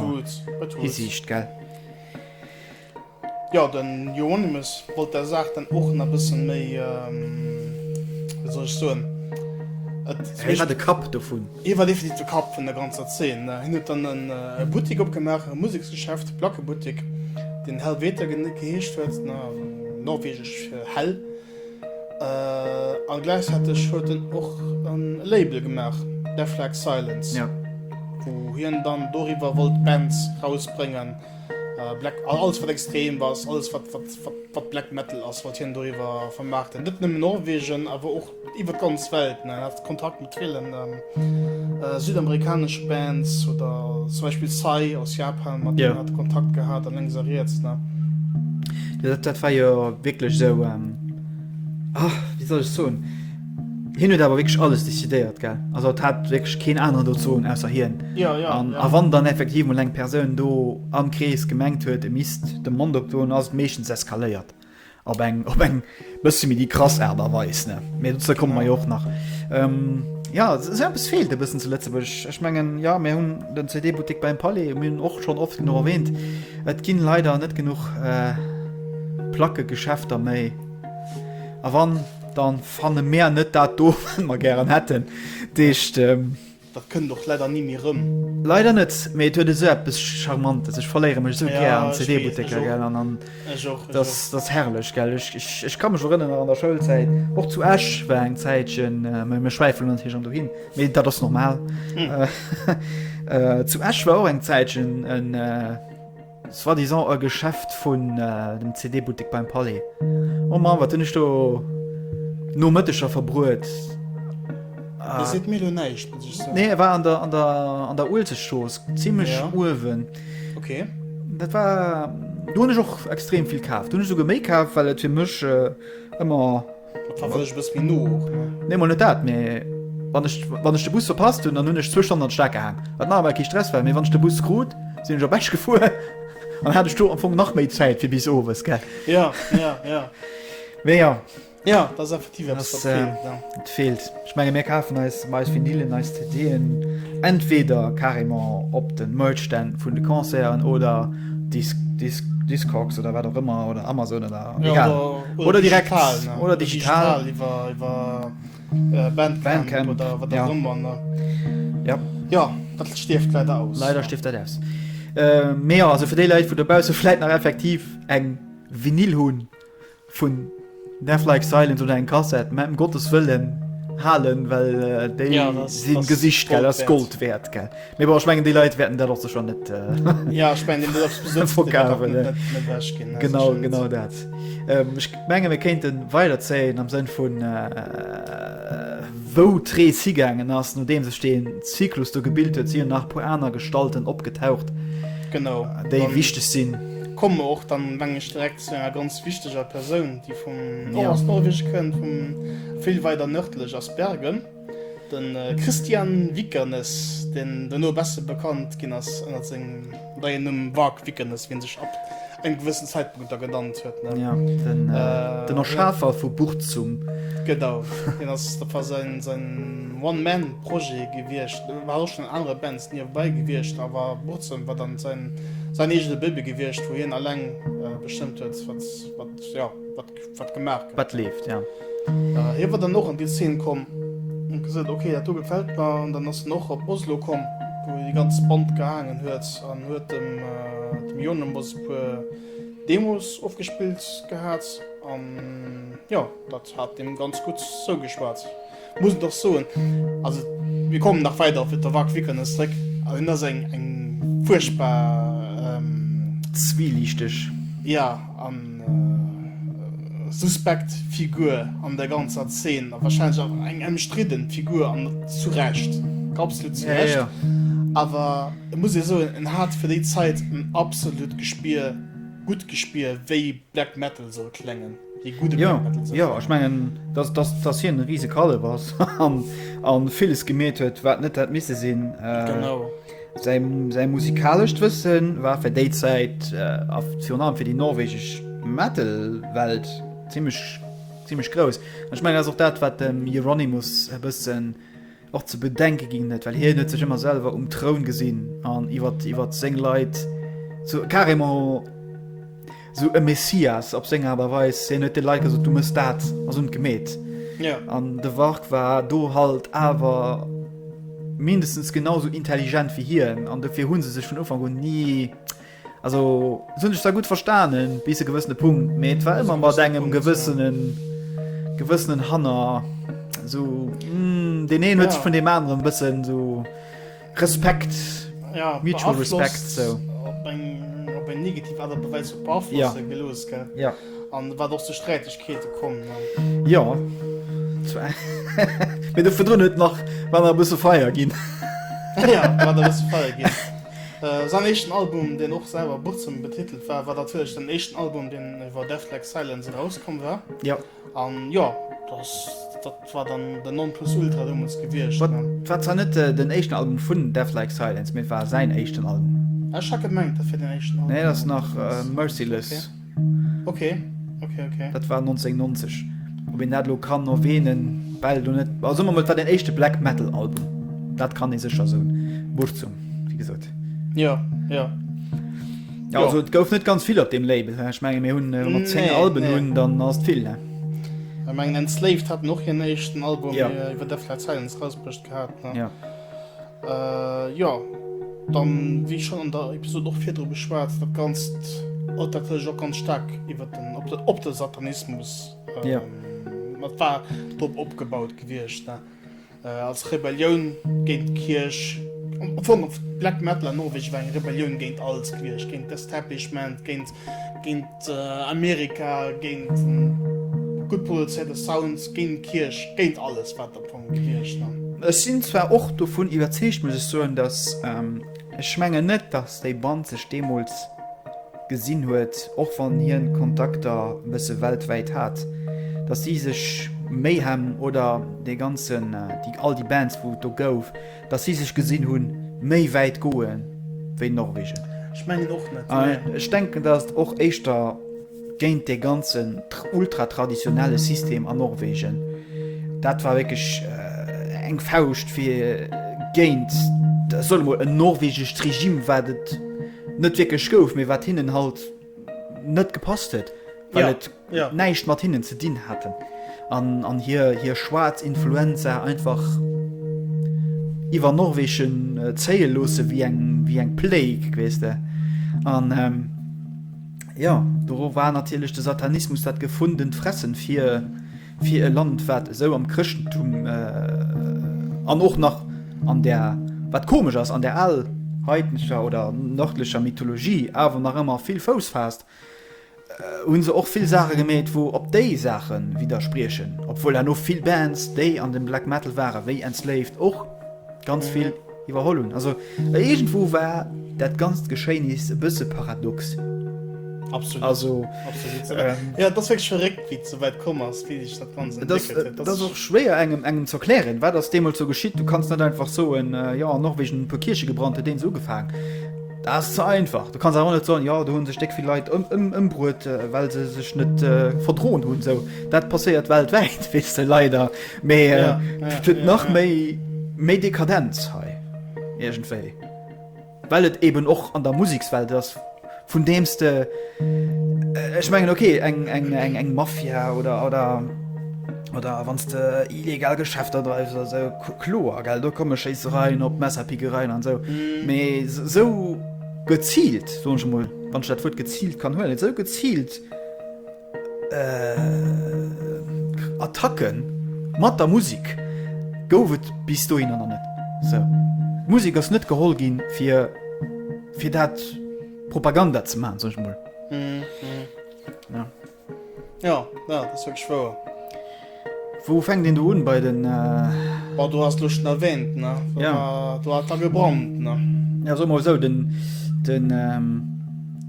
[SPEAKER 1] Hisiicht, gell? Jo, de Euronymous wollt der Saach dann och nach e bësse méi, wéi soll ech soen? Hei
[SPEAKER 2] war de Kapp dovun. Hie war definitiv de Kapp
[SPEAKER 1] vun der ganzer Zeen. Hien huet dann e Buttek opgemaach, e Museksgeschäft, de Plackebuttek, deen Helvete geheescht huet, norwegesch fir Hell, a gläichzäiteg huet en och e Label gemaach, Deathlike Silence, wou
[SPEAKER 2] hien
[SPEAKER 1] dann doriwwer wollt Bands erausbréngen, alles wat extrem ass, alles wat Black Metal ass, wollt hien doriwwer vermaarten, net nëmmen Norwegen, awer och. Iwwer d'ganz Welt, mir haten Kontakt mat villen südamerikaneschen Bands oder zum Beispiel Psy aus Japan, mat deenen haten Kontakt gehat an lénks a riets.
[SPEAKER 2] Dat war jo wierklech esou, wéi soll ech soen, hien huet awer wierklech alles decidéiert, gell, also et hat wierklech keen aneren do ze soen ausser hien. A wann
[SPEAKER 1] dann
[SPEAKER 2] effektiv mol eng Persoun do am Krees gemengt huet, e misst de Mond opdoen, ass et meeschtens eskaléiert. Op eng, op eng bësse méi déi krass Aart a Weis, ne? Mee dozou komme mer jo och nach. Ähm, ja, esou eppes feelt e bëssen zu Lëtzebuerg. Ech mengen, jo, mir hunn den CD-Buttek beim Palais, mir hunn och schonn oft genuch erwähnt, et ginn leider net genuch Plackegeschäfter méi. A wann, dann fanne mär net dat do, wat mer gären hätten. Deescht, Dat kënnt
[SPEAKER 1] och leider ni méi rëm. Leider net, mee et huet
[SPEAKER 2] esou eppes charmantes. Ech verléiere mech esou gär an CD-Butteker, gell, an an datt ass herrlech, gell. Ech ka mech erënneren an der Schoulzäit, och zu Esch war eng Zäitchen, mä mir schwäifelen natierlech ëm dohin, mee dat ass normal, zu Esch war och eng Zäitchen en, Soit disant e Geschäft vun dem CD-Buttek beim Palais. Oh Mann, wat hunn ech do Nomëtteger verbruet!
[SPEAKER 1] Dir seet mir elo näischt, muss ech soen. Nee, e war an der,
[SPEAKER 2] an der, an der Uelzechtstrooss, zimmlech uewen. Okay.
[SPEAKER 1] Dat war,
[SPEAKER 2] do hunn ech och extrem vill kaf. Do hunn ech souguer méi kaf, well et fir mech ëmmer.
[SPEAKER 1] Nee mol net dat mé
[SPEAKER 2] wann ech wann ech de Bus verpasst hun dann hun ech zwou Stonnen an Stack gehaang wat nach emmer kee Stress war mé wann ech de Bus krut sin ech op Esch gefuer an hat ech do am Fong nach méi Zäit fir bis owes gell mé jo et feelt. Ech menge mir kafen eis ëmmer eis Vinylen, eis CD'en entweder carrément op de Merch-Stänn vun de Concerten oder Disc, Disc, Discogs oder wat och ëmmer oder Amazon oder egal. Ja, oder, oder direkt digital, ne? oder digital. Oder digital
[SPEAKER 1] iwwer,
[SPEAKER 2] iwwer
[SPEAKER 1] Bandcamp, Bandcamp oder wat och ëmmer. Ja. Ja. ja, dat stierft leider aus. Leider stierft dat aus. Äh,
[SPEAKER 2] mee ja, also fir déi Leit, wou dobausse vläit nach effektiv eng Vinyl hunn, Vun Death Like Silence oder eng Kassett mam Gottes Wëllen halen, well äh, déi ja, sinn gesicht gell ass Gold wäert gell. Mee war schmengen déi Leiit wäerten dat och sech schon net äh, ja, ich
[SPEAKER 1] mein, verkaen
[SPEAKER 2] Genau genau dat. Ähm, ich menge mir kéinten weiderzéien am Sënn vun äh, wou tree sigängeen ass no deem sech den Zyklus do gebild huet si nach po aner Gestalten opgetaucht. Genau
[SPEAKER 1] déi wichteg
[SPEAKER 2] sinn. Komm och dann
[SPEAKER 1] mengg direkt Zu enger ganz wichteger Persoun, déi vum Nor aus Norweg kënnt, vum vill weider nërdlech ass Bergen. De Kristian Vikernes, deen dono besser bekannt ginn ass ënnert sengem neien Numm Varg Vikernes, wien sech ab engem gewëssen Zäitpunkt da genannt huet, ne? Ja,
[SPEAKER 2] den Erschafer vu Burzum. Genau,
[SPEAKER 1] deen ass, dat war säin One-Man-Projet gewiescht. War och schonn an anere Bands. Niewebäi gewiescht awer Burzem war dann säin säin eegene Baby gewiescht, wou hien alleng bestëmmt huet, wat wat jo wat wat gemaach gëtt. Wat leeft,
[SPEAKER 2] jo. Hie war
[SPEAKER 1] dann och an déi Szene komm an gesot, ok, dat do gefält mer. An dann ass en och op Oslo komm, wou hie déi ganz Band gehaangen huet an huet dem dem Jonemos e puer Demos ofgespillt gehat. An jo, dat hat deem ganz gutt zougeschwat. Muss et och soen, also mir kommen nach weider op de Wack Vikernes zréck, an en ass eng eng fuerchtbar. Zwieliichteg.
[SPEAKER 2] Ja, a
[SPEAKER 1] suspekt Figur an der ganzer Zeen, a warscheinlech och eng emstridden Figur, an zu Recht, absolut zu Recht. Ja, ja. Awer et muss ee soen, en hat fir déi Zäit en absolut Gespier, gutt Gespier, wéi Black Metal soll kléngen. Jo, jo, ech mengen, dass, dass,
[SPEAKER 2] dass hien e riise Kallef ass an, an villes gemeet huet, wat net hätt misse sinn. Äh, genau.
[SPEAKER 1] Säi, säi
[SPEAKER 2] musikalescht Wëssen war fir déi Zäit, äh, virun allem fir déi norwegesch Metal-Welt zimmlech, zimmlech grouss. Ech mengen, ass och dat, wat dem Euronymous e bëssen. Och ze bedenke ginn net, well hien huet sech ëmmer selwer um Troun gesinn an iwwer iwwer seng Leit zu carrément sou e Messias op seng awer weis hien huet de Leiit gesot du mëss dat ass un gemet. Ja.
[SPEAKER 1] An de Warg
[SPEAKER 2] war do halt awer mindestens genauso intelligent wie hien an dofir hunn se sech vun Ufank un ni Also hunn ech da gutt verstanen bis e gewëssene Punkt, mee et war ëmmer mat engem gewëssenen gewëssenen Hanner so mm, den een huet sech vun dem aneren bëssen so Respekt ja, mutual
[SPEAKER 1] beeinflusst, Respekt
[SPEAKER 2] so. Op eng,
[SPEAKER 1] op eng negativ Art a Weis beaflosst Ja. ja. gelooss,
[SPEAKER 2] gell? Ja.
[SPEAKER 1] An
[SPEAKER 2] wat och zu
[SPEAKER 1] Sträitegkeete komm. Ne? Ja
[SPEAKER 2] Mee de verdrun huet nach wann e bësse feier ginn. Ja,
[SPEAKER 1] wat alles feier ginn. Säin éischten Album, deen och selwer Burzum betitelt war, war natierlech den éischten Album, deen iwwer Death Like Silence erauskomm war. Jo. An
[SPEAKER 2] jo,
[SPEAKER 1] dass, dat war dann den Nonplusultra deemools gewiescht. Wat, war zwar net
[SPEAKER 2] den éischten Album vun Death Like Silence, mee et war säin éischten Album. Ah, ech hat gemengt, dat wär den
[SPEAKER 1] éischten Album. Nee, dat ass nach
[SPEAKER 2] Merciless. Okay,
[SPEAKER 1] okay, okay. Dat
[SPEAKER 2] war 1990. Ob en dat lo kann no weenen, well du net. Also man mat war den echte Black Metal Album. Dat kann e secher so Bucht zum wie gesot. Ja, ja. Ja, also, et gouf net ganz vill op dem Label ich mein, mir hunn äh, mat 10 Nee, Alben nee. hunn dann ass vill ne? Ich mein,
[SPEAKER 1] Enslaved hat noch hir nächsten Album, Ja. ja. iwwer der Flat
[SPEAKER 2] Silence
[SPEAKER 1] rausbrucht gehabt. Ne? ja. Äh,
[SPEAKER 2] jo.
[SPEAKER 1] Dann, wéi schonn an der Episod och virdru beschwat, dat Ganzt haut natierlech och ganz staark iwwer den, op de, op de Satanismus, ähm, ja. dat war drop opgebaut gewiescht, ne? Äh, als Rebellioun géint d'Kierch, Vum Black Metal an Norwegen war eng Rebellioun géint alles gewiescht, géint d'Establishment, géint, géint. Amerika géint den gutt produzéierte Sound, géint d'Kierch, géint alles wat der Punk heescht an. Ech sinn zwar
[SPEAKER 2] och dovun iwwerzeegt muss ech soen, dass ech mengen net dass déi Band sech deemools gesinn huet, och wann hien Kontakter e bësse weltwäit hat, dass si sech Mayhem oder dee ganzen, all déi Bands wou et do gouf, Dass si sech gesinn hunn, méi wäit goe wéi Norwegen. Ech mengen och
[SPEAKER 1] net. A ech denken, dass et och
[SPEAKER 2] éischter géint dee ganzen ultratraditionelle System an Norwegen, dat war wierklech eng Fauscht fir géint, solle mol, en norwegescht Regime, wat et net wierklech gouf, mee wat hinnen halt, net gepasst huet, well et näischt mat hinnen ze dinn hat an hir schwaarz Influenza einfach iwwer Norwegen zéie loosse wéi eng Plague, weess de. An jo, do war natierlech de Satanismus dat gefundent Fressen fir. Fir e Land wat esou am Chrëschtentum an och nach an der, wat komesch ass, an der al heidnescher oder nërdlecher Mythologie awer nach ëmmer vill Fouss faasst, hu se och vill Saache gemeet wou op déi Saache widderspriechen, obwuel herno vill Bands déi an dem Black Metal ware wéi Enslaved och ganz vill. Iwwerholl hunn. Also iergendwou war dat ganzt Geschéinis e bësse paradox. Absolut.
[SPEAKER 1] Also,
[SPEAKER 2] ähm,
[SPEAKER 1] ja, dat ass wierklech verréckt, wéi et esou wäit komm ass, wéi sech dat Ganzt entwéckelt huet. Dat ass och schwéier
[SPEAKER 2] engem, engem ze erklären, wat ass deemools esou geschitt. Du kanns net einfach soen, äh, jo, an Norwegen hunn e puer Kierche gebrannt, huet deen esou ugefaangen. Dat ass ze einfach. Du kanns awer och net soen, jo, do hunn sech déck vill Leit ëm, ëm, ëmbruet, äh, well se sech net äh, verdroen hunn. Esou, dat passéiert weltwäit, weess de, leider. Mee et huet nach méi méi Dekadenz hei iergendwéi. Well et eben och an der Musikswelt ass, vun deems de ech mengen okay eng eng eng eng Mafia oder oder oder wann de illegal Geschäfter dreifs oder sou kloer gell, do komme Schéissereien op, Messerpickereien an sou. Mee sou geziilt, soen ech emol, wann ech dat Wuert geziilt kann huelen, sou geziilt, Attacke mat der Musek gouf et bis dohinner nach net. D'Musek ass net geholl ginn, fir dat Propaganda ze maachen, soen ech emol. Wou fänkt een do un bei den. Bon, do ass
[SPEAKER 1] lo schon erwähnt, ne? Ja. Do hat da
[SPEAKER 2] gebrannt,
[SPEAKER 1] ne? Ja, soe mer mol esou, den,
[SPEAKER 2] den,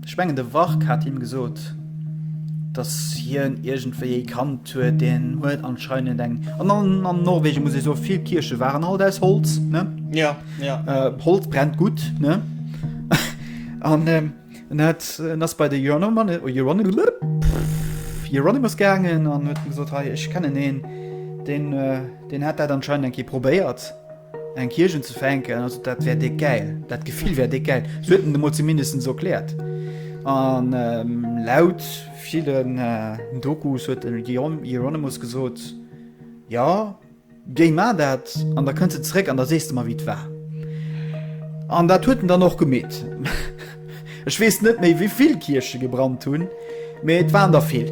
[SPEAKER 2] ech mengen de Wark hat him gesot, dass hien iergendwéi ee kannt huet, deen huet anscheinend eng, an, an, an Norwegen muss ech soe vill Kierche waren alt aus Holz, ne? Ja, ja.
[SPEAKER 1] Holz
[SPEAKER 2] brennt gutt, ne? An, En hat, en ass bei de Hieronymus gaangen an huet gesot, hei, ech kennen een, deen, deen hat dat anscheinend eng Kéier probéiert, eng Kierch unzefänken, also dat wär déck gäil, dat Gefill wär déck gäil. Sou huet en et emol zumindest sou erkläert. An laut villen Dokus huet de Hieronymus gesot, jo, Géi maer dat, an da kënns de zeréck an da sees de mer, wéi et war. An dat huet en dann och gemeet. Ech weess net méi, wéi vill Kierche gebrannt hunn, mee et waren der vill.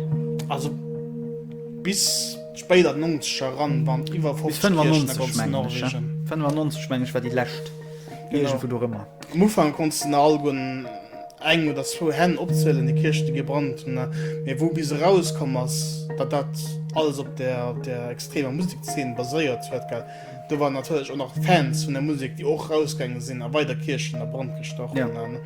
[SPEAKER 2] Also
[SPEAKER 1] bis spéit an d'Nonzeger eran waren et iwwer 50 Kierchen a ganz
[SPEAKER 2] Norwegen. 95, mengen ech, war déi lescht, iergendwou dorëmmer. Am Ufank
[SPEAKER 1] konnts de nach alleguer. eng oder zwou Hänn opzielen, déi Kierchen, déi gebrannt hunn. Mee wou bis eraus komm ass, datt dat alles op der, op der extremer Musekszeen baséiert huet, gell, do waren natierlech och nach Fans vun der Musek, déi och rausgaange sinn a weider Kierchen a Brand gestach hunn. Ja. An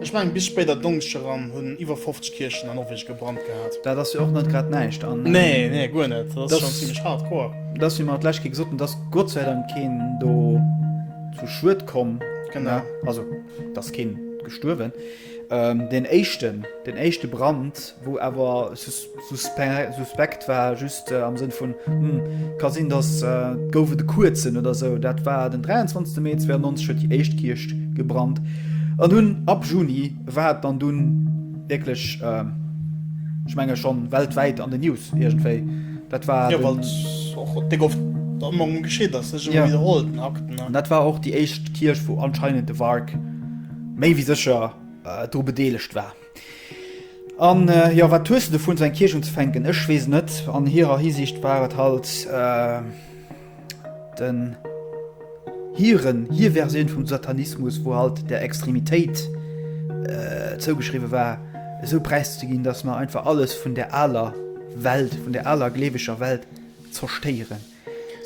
[SPEAKER 2] ech mengen,
[SPEAKER 1] bis spéit an d'Donkscht eran hunn iwwer 50 Kierchen an Norwegen gebrannt gehat. Dat ass jo och net grad
[SPEAKER 2] näischt. An. Nee, nee, guer net. Dat
[SPEAKER 1] ass schonn zimlech hardcore. Et ass, wéi mer d'lescht Kéier
[SPEAKER 2] gesot hunn, et ass Gott sei Dank keen do zu Schued komm. Genau. Also. D'ass keen gestuerwen. Deen éischten, deen éischte Brand, wou awer suspekt war, just am Sënn vun, hm, ka sinn, datt et gouf et e kuerzen oder esou, dat war den 23 Mee 92, huet déi éischt Kierch gebrannt. An dunn ab Juni war et dann dunn wierklech, ech menge schonn weltwäit an den News iergendwéi. Dat war den. Ja, well och
[SPEAKER 1] dek oft Ermordung geschitt ass, sech ëmmer widderholt, den Akten, ne? An dat war och déi éischt
[SPEAKER 2] Kierch, wou anscheinend de Wark méi wéi sécher dru bedeelegt war. An, jo, wat hues de dovun, esou eng Kierch unzefänken? Ech weess net. An hirer Hisiicht war et halt. den hiren hir Versioun vum Satanismus, wou halt der Extremitéit äh, zougeschriwwe war, esou präiszeginn, dass mer einfach alles vun der aler Welt, vun der aler gleeweger Welt zerstéieren.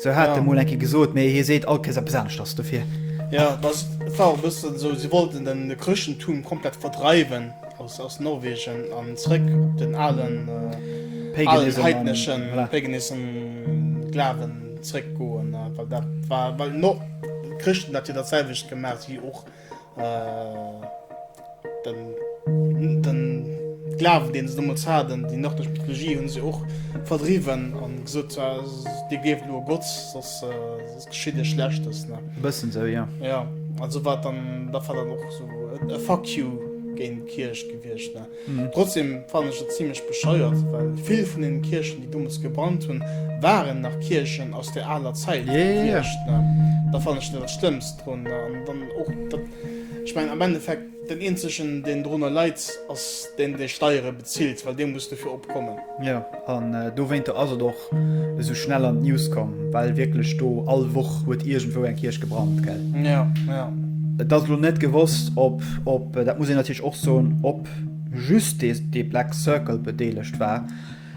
[SPEAKER 2] So hat ja. mol enke gesot,
[SPEAKER 1] méi
[SPEAKER 2] hie seet alkees a besanecht ass dofir. Ja, das
[SPEAKER 1] war bëssen so, sie wollten den Chrëschtentum komplett verdreiwen. Aus Norwegen an zréck op den alen
[SPEAKER 2] heidneschen,
[SPEAKER 1] paganism, Glawen zréck goen, well dat war, well d'Chrëschten dat jo dat selwecht gemaacht wéi och den Glawen deen se deemools haten. Déi nordlech Mythologie hunn se och verdriwwen an gesot, dir gleeft elo e Gott, soss. Verschidde Schlechtes, ne? E bëssen esou, jo. Jo,
[SPEAKER 2] also wat
[SPEAKER 1] dann, dat war dann och esou e Fuck you géint d'Kierch gewiescht, ne? Trotzdem fannen ech et zimlech bescheuert, well vill vun deenen Kierchen, déi dommels gebrannt hunn, waren nach Kierchen aus der aler Zäit gewiescht, ne? Dat fannen ech net dat Schlëmmst drun, ne? An dann och dat, ech mengen am Endeffekt, Den eenzegen deen drunner leit ass deen dee Steiere bezilt, well dee muss dofir opkommen. Jo, an
[SPEAKER 2] dowéinter ass et och esou schnell an d'News komm, well wierklech do all Woch huet iergendwou eng Kierch gebrannt, gell? Jo, jo.
[SPEAKER 1] Et ass elo
[SPEAKER 2] net gewosst, ob, ob, dat muss een natierlech och soen, ob just dee Black Circle bedeelegt war.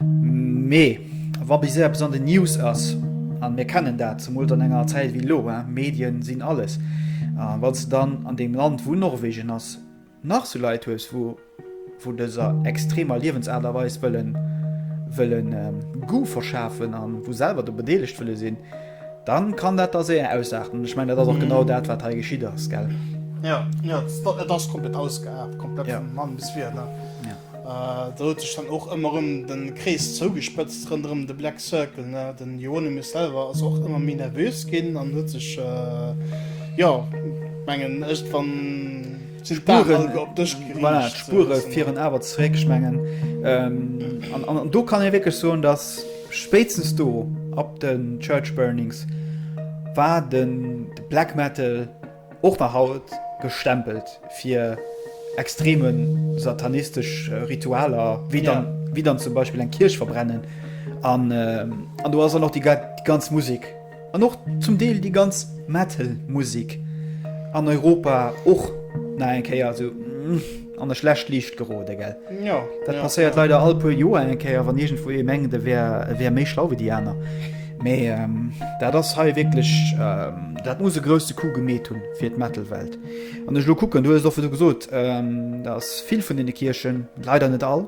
[SPEAKER 2] Mee wa bis eppes an den News ass, an mir kennen dat, zemools an enger Zäit wéi elo, Medien sinn alles, a wanns de dann an deem Land wou Norwegen ass nach sou Leit hues wou vu dëser extremer Liewensaart a Weis wëllen wëllen Goût verschafen an wou selwer do bedeelegt wëlle sinn, dann kann dat da séier ausarten. Ech mengen dat ass och genau dat wat hei geschitt ass, gell? Jo, jo,
[SPEAKER 1] et ass komplett ausgeart, komplett vun Mann bis Wier, ne?
[SPEAKER 2] Do huet sech dann och
[SPEAKER 1] ëmmer erëm de Krees zougespëtzt ronderëm de Black Circle. De Hieronymus selwer ass och ëmmer méi nervös ginn an huet sech, jo, mengen ech, wann d'Spuren op dësch geriicht. Voilà,
[SPEAKER 2] d'Spure fieren awer zeréck, ech mengen. An do kann ee wierklech soen, datt spéitstens do ab de Church Burnings war de Black Metal, Och nach haut gestempelt fir extreme satanistesch Ritualer, wéi dann zum Beispill eng Kierch verbrennen. An do ass dann och déi ganz Musek an och zum Deel déi ganz Metal-Musek an Europa och nach eng Kéier esou. An der schlecht Liicht gerode gell ja, dat ja, passéiert
[SPEAKER 1] ja. leider
[SPEAKER 2] all puer
[SPEAKER 1] Joer
[SPEAKER 2] eng Kéier wann iergendwou ee mengt e wär e wär méi schlau wéi déi aner. Mee ähm, dat ass hei wierklech ähm, dat muss e grousse Coup gemeet hunn fir d'Metal-Welt. An ech lo kucken, du hues och fir du gesot, ähm, dat ass vill vun deene Kierchen, leider net all,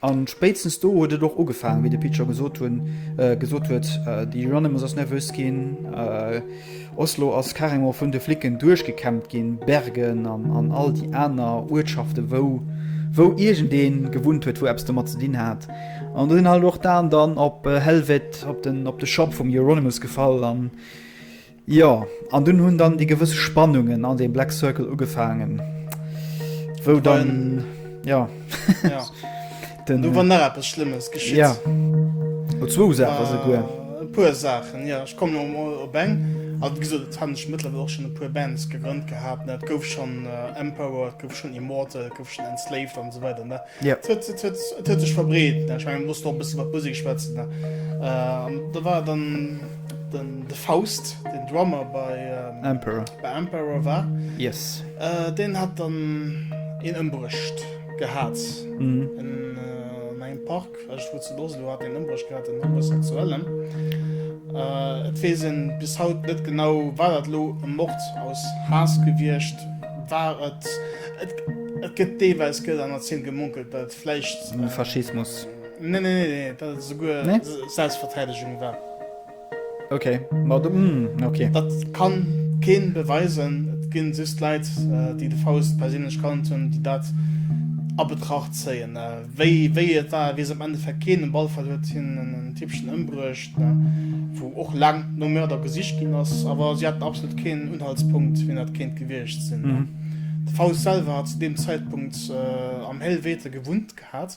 [SPEAKER 1] A
[SPEAKER 2] spéitstens do huet et och ugefaangen, wéi de Pit scho gesot hunn, gesot huet, déi Euronymous ass nervös ginn, Oslo ass carrément vun de Flicken duerchgekämmt ginn, Bergen an all déi aner Uertschaften, wou, wou iergendee gewunnt huet, wou eppes domat ze dinn hat. An do sinn halt och d'Aen dann op Helvete, op de, op de Shop vum Euronymous gefall an. Jo, an dunn hunn dann déi gewëss Spannungen an deem Black Circle ugefaangen, wou dann, jo, jo,
[SPEAKER 1] den. Do war nach eppes Schlëmmes geschitt. Jo,
[SPEAKER 2] oder zwou Saache souguer. E puer
[SPEAKER 1] Saachen, jo. Ech kommen elo emol op eng. Also, wéi gesot, et haten ech mëttlerweil och schonn e puer Bands gegrënnt gehat, ne. Et gouf schonn Emperor, et gouf schonn Immortal, et gouf schonn Enslaved an esou weider, ne. Ja. Et huet, et huet,
[SPEAKER 2] et huet
[SPEAKER 1] sech verbreet. Ne? Ich mein, muss noch ein bisschen mat Musik schwätzen. Ne? Äh, da war dann den, de Faust, den Drummer bei, ähm, Emperor. bei Emperor war. Yes. Äh,
[SPEAKER 2] den hat
[SPEAKER 1] dann een ëmbruecht gehat. Mhm.
[SPEAKER 2] En,
[SPEAKER 1] äh, an engem Park. Erscht wou zu Oslo hat een Ëmbréch gehat, en Homosexuellen. Et weess een bis haut net genau war dat elo e Mord aus Haass gewiescht war. Et et gëtt deelweis gëtt an Erziel gemunkelt dat et vläicht. Faschismus.
[SPEAKER 2] Nee, nee, nee,
[SPEAKER 1] dat et esouguer Selbstverteidegung war. Ok,
[SPEAKER 2] mat dem mm, ok. Dat kann
[SPEAKER 1] keen beweisen, et ginn just Leit déi de Faust perséinlech kannt hunn, déi dat a Betracht zéien. Wéi et war weess am Endeffekt keen, um Ballfeld huet hien en Tippchen ëmbruecht, wou och laang nom Mörder gesicht ginn ass, awer si haten absolut keen Unhaltspunkt wien dat kéint gewiescht sinn. De Faust selwer hat zu deem Zäitpunkt am Helvete gewunnt gehat.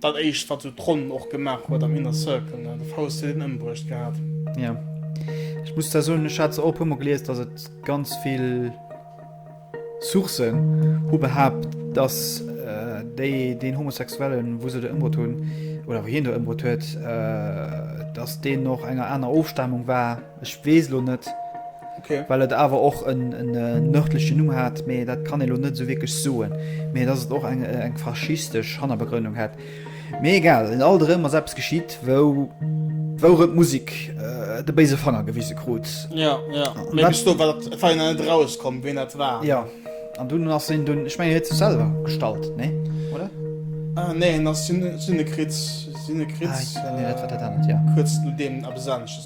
[SPEAKER 1] Dat éischt wat sou d'Ronn och gemaach huet am Inner Circle, ne? De Faust huet een ëmbruecht gehat. Jo.
[SPEAKER 2] Ech muss da soen, ech hat se och e puer mol gelies, dass et ganz vill Sourcen hu behaapt, dass déi deen Homosexuellen, wou se de ëmbruet hunn, oder wou hien de ëmbruet huet, dass deen och enger aner Ofstamung war. Ech wees lo net okay. well et
[SPEAKER 1] awer och
[SPEAKER 2] en nërdlechen Numm hat, mee dat kann elo net sou wierklech soen, mee dat et och eng eng faschistesch Hannerbegrënnung hat. Mee egal en alt erëm ass eppes geschitt wou wouer d'Musik äh, de béise Fanger gewise krut. Ja, ja.
[SPEAKER 1] Mee bis do war dat fein net rauskomm, wien dat war. Ja. An dunn
[SPEAKER 2] ass en dunn, ech meng en huet sech selwer gestallt, nee? Oder? Ah, nee, en
[SPEAKER 1] ass Synekriz, Synekriz, ah, nee, dat war dat anert, ja. Kuerz nodeem eppes anesches.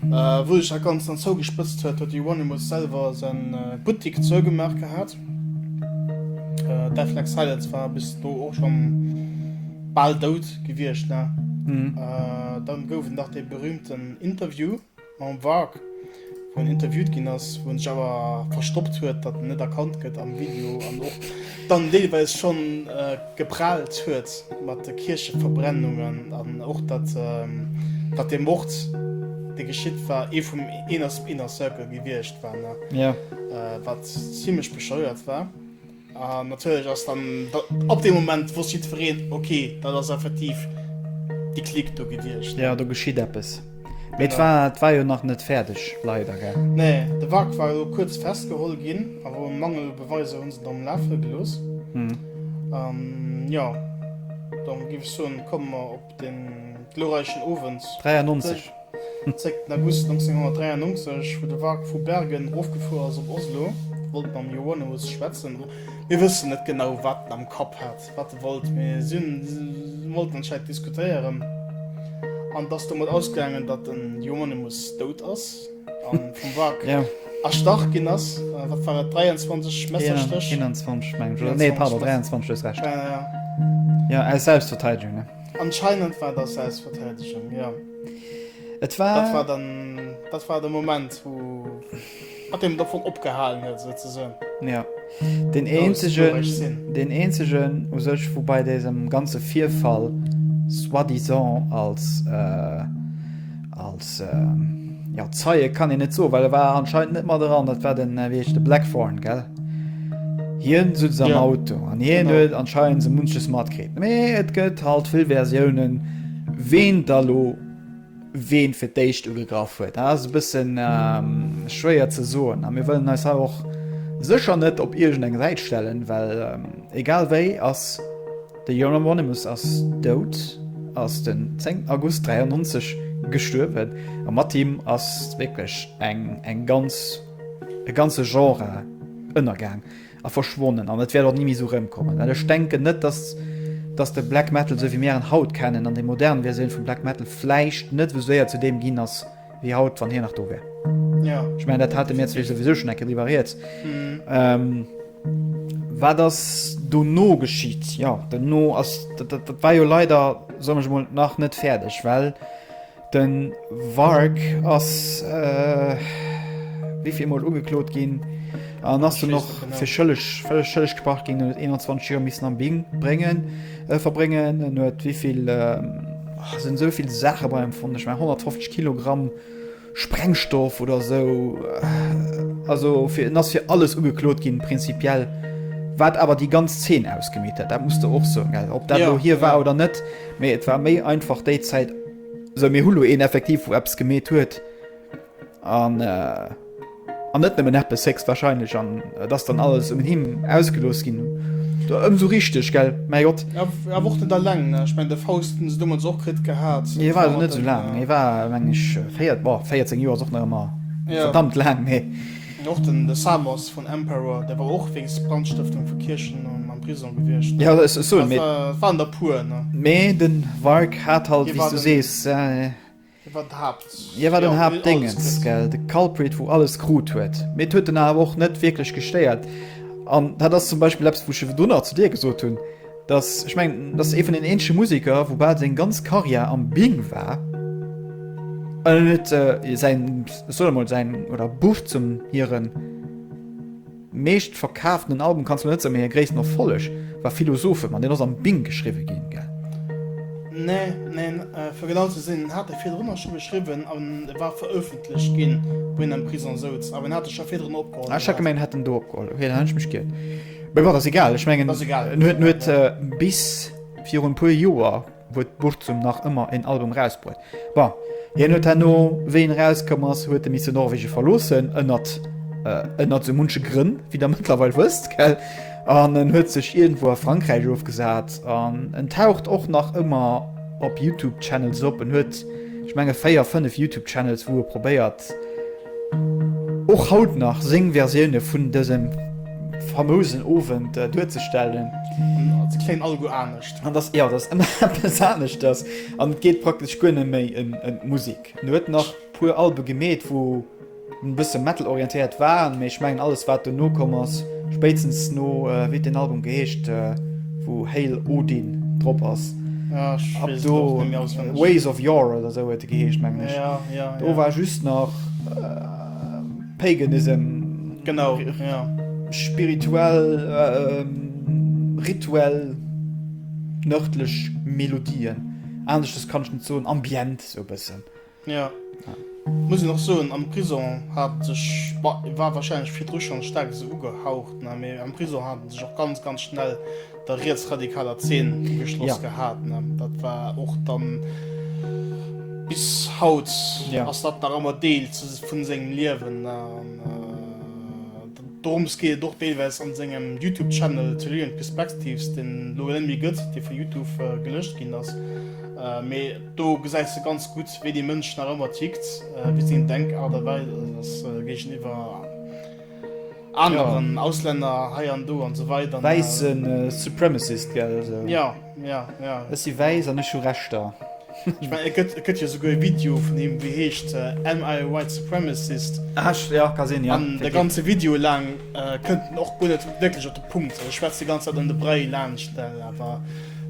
[SPEAKER 2] Wou sech
[SPEAKER 1] dat Ganzt dann zougespëtzt huet, huet de Euronymous selwer säi Buttik zougemaach gehat. Deathlike Silence war bis do och scho bal dout gewiescht. Dann gouf et nach dee berühmten Interview mam Varg, wou en interviewt ginn ass, wou en sech awer verstoppt huet, datt en net erkannt gëtt am Video an och. dann deelweis schonn gepraalt huet mat de Kiercheverbrennungen an och datt datt dee Mord dee geschitt war ee vum Inner Inner Circle gewiescht war ne jo
[SPEAKER 2] wat
[SPEAKER 1] zimmlech bescheuert war an natierlech ass dann datt ab deem Moment wosst jiddwereen okay dat ass effektiv déi Clique do gewiescht ne. Jo do geschitt eppes.
[SPEAKER 2] Mee et war, et war jo nach net fäerdeg, leider, gell? Nee, de Wrack war
[SPEAKER 1] elo kuerz festgeholl ginn, awer um Mangel u Beweiser hunn se dann lafe gelooss. An jo, dann géif ech soen, komme mer op dee glorreichen Owend.
[SPEAKER 2] 93. Zréck, den August
[SPEAKER 1] 1993, wou de Wrack vu Bergen erofgefuer ass op Oslo, wollt mam Johannes schwätzen. Mir wëssen net genau, wat en am Kapp hat. wat de wollt, mee si wollten anscheinend diskutéieren. An dass domat ausgaangen, datt den Hieronymus dout ass an vum Warg ja. erstach
[SPEAKER 2] ginn ass.
[SPEAKER 1] Äh, wat war et 23 Messerstëch? 21 meng ech.
[SPEAKER 2] Nee, pardon, 23 hues recht. Ja, ja. Ja, aus Selbstverteidigung, ne? Anscheinend war das
[SPEAKER 1] Selbstverteidigung, ja. Et
[SPEAKER 2] war. Dat war dann. Dat war de
[SPEAKER 1] Moment, wou. Hat him dovun opgehalen huet esou ze soen. Jo,
[SPEAKER 2] deen eenzegen, deen eenzegen u sech wou bei désem ganze Virfall soi-disant als, als jo Zeie kann een net soen, well e war anscheinend net mat eran, dat war den, wéi heescht e, Blackthorne, gell? Hien sutz am Auto an hien huet anscheinend esou
[SPEAKER 1] munches
[SPEAKER 2] matkritt. Mee et gëtt halt vill Versiounen, ween da lo. ween fir d'éischt ugegraff huet. Dat ass e bëssen schwéier ze soen a mir wëllen eis hei och sécher net op iergend eng Säit stellen, well egal wéi ass de Euronymous ass dout, ass den 10 August 93 gestuerwen a mat him ass wierklech eng, eng ganz, e ganze Genre ënnergaang. A verschwonnen an et wäert och ni méi esou rëmkommen, well ech denken net, dass, dass de Black Metal, esou wéi mir en haut kennen, an déi modern Versioun vum Black Metal vläicht net esou séier zu deem ginn ass wéi haut, wann hien nach do wär. Ech mengen,
[SPEAKER 1] dat hate mir
[SPEAKER 2] zwee souwisou schonn eng Kéier driwwer rieds. Wat ass dono geschitt? Jo, dono ass, dat war jo leider, soen ech emol, nach net fäerdeg, well, Den Wark ass wivill mol ugeklot ginn an ass du noch fir schëlleg völleg schëlleg gebracht ginn huet 21 Joer missen am Bing bréngen äh, verbréngen en huet wievill ähm, oh, sind soviel Sache beim von ich mein 150 Kilogramm Sprengstoff oder so äh, also fir ass fir alles ugeklot ginn prinzipiell wat aber die ganz 10 ausgemiet hat da musste och so gell ob dat ja, hier war ja. oder net Mee et war méi einfach déi Zäit. Sou, mir hu lo een effektiv, wou eppes gemeet huet an an net nëmmen eppes héchstwahrscheinlech an et ass dann alles un him ausgelooss ginn. Do ëmsou richteg, gell? Mäi Gott! Ja, w- awer och net alleng,
[SPEAKER 1] ne? Ech mengen, de Faust hunn se domadds och kritt gehat. Hie war elo net sou laang,
[SPEAKER 2] hie war, meng ech, véiert, boah, 14 Joer ass och nach ëmmer Ja. verdammt laang,
[SPEAKER 1] mee.
[SPEAKER 2] Och den de
[SPEAKER 1] Samos vun Emperor, dee war och wéinst Brandstëftung vu Kierchen am Prisong gewiescht. Ja, dat soen mir. Et
[SPEAKER 2] waren der puer,
[SPEAKER 1] ne? Mee de
[SPEAKER 2] Warg hat halt, wéi s du sees.
[SPEAKER 1] Hie
[SPEAKER 2] war
[SPEAKER 1] d'Haapt. Hie war den Haaptdéngens,
[SPEAKER 2] gell, de
[SPEAKER 1] Culprit,
[SPEAKER 2] wou alles krut huet. Mee et huet en awer och net wierklech gestéiert. An dat ass zum Beispill eppes, wou ech ewell dono zu dir gesot hunn. Dass, ech mengen, dass ee vun den eenzege Museker, wou bal seng ganz Karriär am Bing war, an en huet äh, säin, ech soll emol säin, oder Buff zum hiren meescht verkaaftenen Album, kanns du net soen, mee hir gréissten Erfolleg war Philosophem, an deen ass am Bing geschriwwe ginn, gell? Nee,
[SPEAKER 1] neen, fir genau ze sinn, en hat e virdrun och scho geschriwwen, an e war verëffentlecht ginn, wou hien am Prisong souz, awer en hat e scho virdrun opgeholl. Ah, ech hat gemengt, en hätt en do opgeholl,
[SPEAKER 2] okay, dann hunn ech mech giert. Mee bon, ass egal, ech mengen, en huet, en huet
[SPEAKER 1] bis
[SPEAKER 2] virun e puer Joer huet Burzum nach ëmmer en Album rausbruet. Bon, hien huet herno, wéi en erauskomm ass, huet e misse Norwegen verloossen, ënnert, ënnert esou munche Grënn, wéi der mëttlerweil wësst, gell? An en huet sech iergendwou a Frankräich ofgesat an en taucht och nach ëmmer op YouTube-Channels op. En huet, ech menge véier, fënnef YouTube-Channels, wou e probéiert, och haut nach seng Versioune vun dësem famousen Owend duerzestellen. An ass ëmmer
[SPEAKER 1] eppes anescht. An ass ëmmer
[SPEAKER 2] eppes anescht. An et geet praktesch guer net méi ëm d'Musek. En huet nach e puer Albe gemeet, wou e bësse Metal-orientéiert waren, mee ech mengen alles, wat dono komm ass, Spéitstens no, wéi den Album geheescht wou Hail Odin drop ass, ab
[SPEAKER 1] do Ways
[SPEAKER 2] of
[SPEAKER 1] Yore oder esou
[SPEAKER 2] huet e geheescht mengen ech, do war
[SPEAKER 1] just nach
[SPEAKER 2] Paganism,
[SPEAKER 1] spirituell,
[SPEAKER 2] rituell nërdlech Melodien, aneschters kann ech net soen, ambient esou e bëssen. Jo,
[SPEAKER 1] muss een och soen, am Prison hat en sech, bon, e war wahrscheinlech virdru schonn staark esou ugehaucht, ne, mee am Prison hat en sech och ganz, ganz schnell der rietsradikaler Zeen ugeschloss gehat, ne. Dat war och dann, bis haut ass dat nach
[SPEAKER 2] ëmmer Deel
[SPEAKER 1] vun sengem Liewen, ne. An dorëms geet et och deelweis an sengem YouTube-Channel Tellurian Perspectives, deen elo net méi gëtt, dee vu YouTube gelëscht ginn ass, mee. Do gesäis de ganz gutt, wéi dee Mënsch nach ëmmer tickt, wéi seng Denkart a Weis ass géigeniwwer aneren Auslänner hei an do an esou weider. Wäisse
[SPEAKER 2] Supremacist, gell? Jo, jo, jo.
[SPEAKER 1] Ech si
[SPEAKER 2] wäiss an ech hu Rechter. Ech mengen,
[SPEAKER 1] et gëtt jo souguer e Video vun him, dee heescht Am I a White Supremacist? Jo, ka sinn,
[SPEAKER 2] jo. An de ganze Video
[SPEAKER 1] laang kënnt en och guer net wierklech op de Punkt. E schwätzt déi ganz Zäit ëm de Bréi laanscht, awer.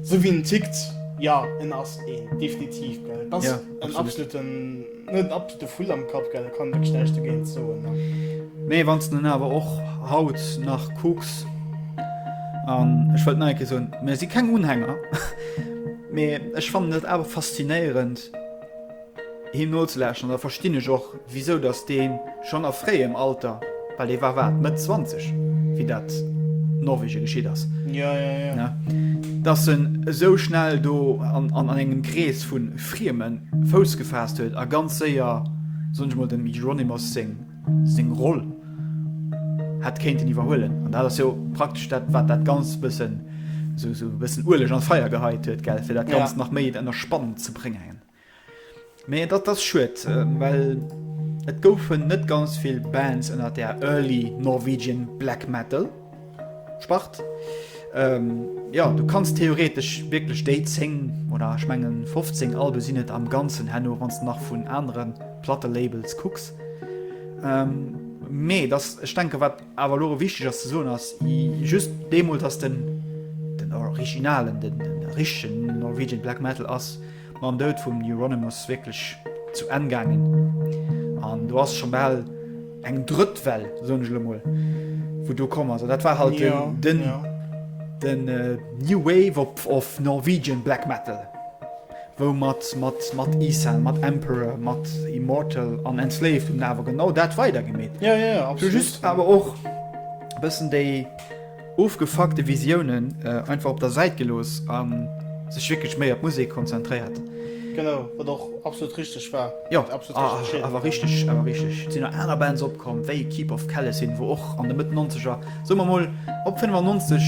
[SPEAKER 1] Sou wéi en tickt, jo, en ass een, definitiv, gell. Et ass en absoluten,
[SPEAKER 2] net en absolute
[SPEAKER 1] Vull am Kapp, gell, do kann een wierklech näischt dogéint soen, ne. Mee wann s de
[SPEAKER 2] en awer och haut nach kucks, an ech wëllt nach eng Kéier soen, mir si keng Unhänger, mee ech fannen et awer faszinéierend, Him nozelauschteren, da verstinn ech och, wisou datt dee schonn a fréiem Alter, well dee war, wat, Mëtt 20, wéi dat Norwegen geschitt ass, ne, datt en esou schnell do an engem Krees vu Frieme Fouss gefaasst huet a ganz séier, soen ech emol, dem Hieronymus seng Roll hätt kéinten iwwerhuelen. An dat ass jo praktesch dat, wat dat Ganzt e bëssen, esou e bëssen Ueleg an d'Feier geheit huet, gell, fir dat Ganzt nach méi ënner Spann ze bréngen. Mee dat ass schued, well et goufen net ganz vill Bands ënner der Early Norwegian Black Metal Spart. Jo, du kanns theoretesch wierklech déi 10, oder ech mengen 15 Albe sinn et am Ganzen herno, wann s de nach vun anere Plattelabels kucks. Mee et ass, ech denke wat, Awer elo erëm wichteg ass ze soen, ass just deemools ass den den originalen, den richtegen Norwegian Black Metal ass mam Doud vum Euronymous wierklech zu Enn gaangen. An do ass scho bal eng drëtt Well, soen ech elo mol, wou do komm ass. An dat war halt den, den, den New Wave of Norwegian Black Metal. Wou mat mat Isam, mat Emperor, mat Immortal an Enslaved hunn awer genau dat weider gemeet. Ja, ja, ja, absolut. Just
[SPEAKER 1] awer och
[SPEAKER 2] e bëssen déi ofgefuckte Visiounen einfach op der Säit gelooss a sech wierklech méi op d'Musek konzentréiert. Genau, wat
[SPEAKER 1] och absolut richteg war. Jo,
[SPEAKER 2] awer
[SPEAKER 1] richteg, awer richteg.
[SPEAKER 2] Et sinn nach aner Bands opkomm, wéi Keep of Kalesyn, wou och an de Mëtt Nonzeger, soe mer mol op 95,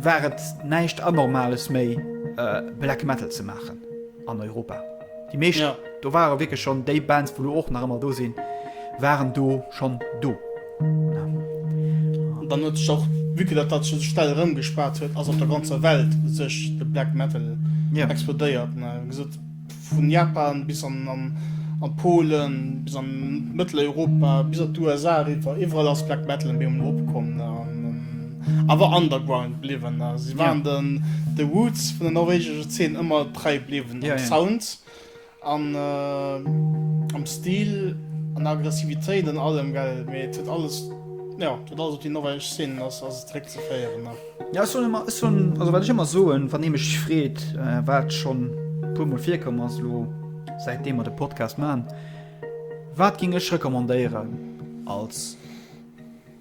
[SPEAKER 2] war et näischt Anormales méi. Black Metal ze maachen an Europa. Déi meescht do ware wierklech schonn déi Bands, wou lo och nach ëmmer do sinn, waren do schonn do.
[SPEAKER 1] An dann huet sech och, vue que dat dat sech esou schnell erëmgespaart huet, ass op der ganzer Welt sech de Black Metal explodéiert, ne? Gesot. Vun Japan bis an an Polen, bis an Mëtteleuropa, bis an d'USA eriwwer, iwwerall ass Black Metal en Béi un opkomm an awer underground bliwwen. Si waren den de Roots vun der norwegescher Zeen ëmmer trei bliwwen, am Sound an am Stil, an der Aggressivitéit, an allem, well et huet alles, jo, et huet alles op déi norwegesch Zeen ass ass et zréckzeféieren. Ja ech soen ëmmer, ech soen,
[SPEAKER 2] also wat ech ëmmer soen, wann ee mech freet, wat schonn e puermol virkomm ass elo, säitdeem mer de Podcast maachen, Wat géing ech recommandéieren als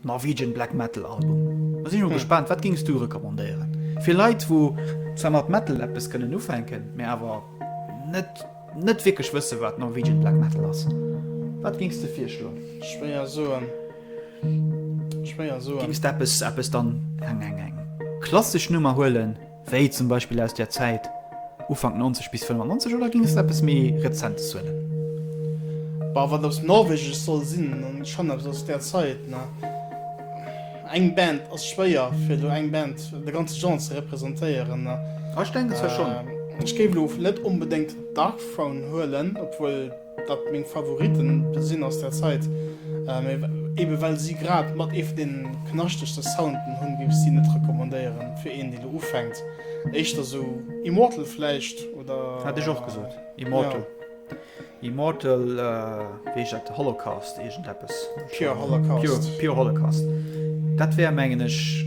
[SPEAKER 2] Norwegian Black Metal Album? Da sinn ech mol gespaant, wat géings du recommandéieren? Fir Leit, wou zwar mat Metal eppes kënnen ufänken, mä awer net, net wierklech wësse wat Norwegian Black Metal ass, wat géings de virschloen? Schwéier soen.
[SPEAKER 1] Schwéier
[SPEAKER 2] soen. Géings de eppes, eppes dann eng, eng, eng klassesch Nummer huelen, wéi zum Beispill aus där Zäit Ufank 90 bis 95, oder géings de eppes méi Rezentes huelen? Bah, wat aus
[SPEAKER 1] Norwegesch soll sinn, dann schonn eppes aus där Zäit, ne. Eng Band ass schwéier, fir elo eng Band, de ganze Genre ze representéieren, ne. Ah, ech denken zwar
[SPEAKER 2] schonn. Ech géif elo
[SPEAKER 1] net onbedéngt Darkthrone huelen, obwuel. Wat meng Favoriten sinn aus der Zait, mee eben well sie grad mat ee vun den knaschtegsten Sounden hunn, géif ech sie net recommandéieren fir een deen elo ufänkt. Éischter esou Immortal vläicht oder. Hat ech och gesot
[SPEAKER 2] Immortal. Immortal wéi heescht dat Holocaust iergend eppes. Pure Holocaust.
[SPEAKER 1] Pure Holocaust
[SPEAKER 2] dat wär mengen ech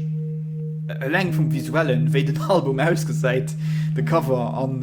[SPEAKER 2] eleng vum visuellen wéi den Album ausgesäit, de Cover an.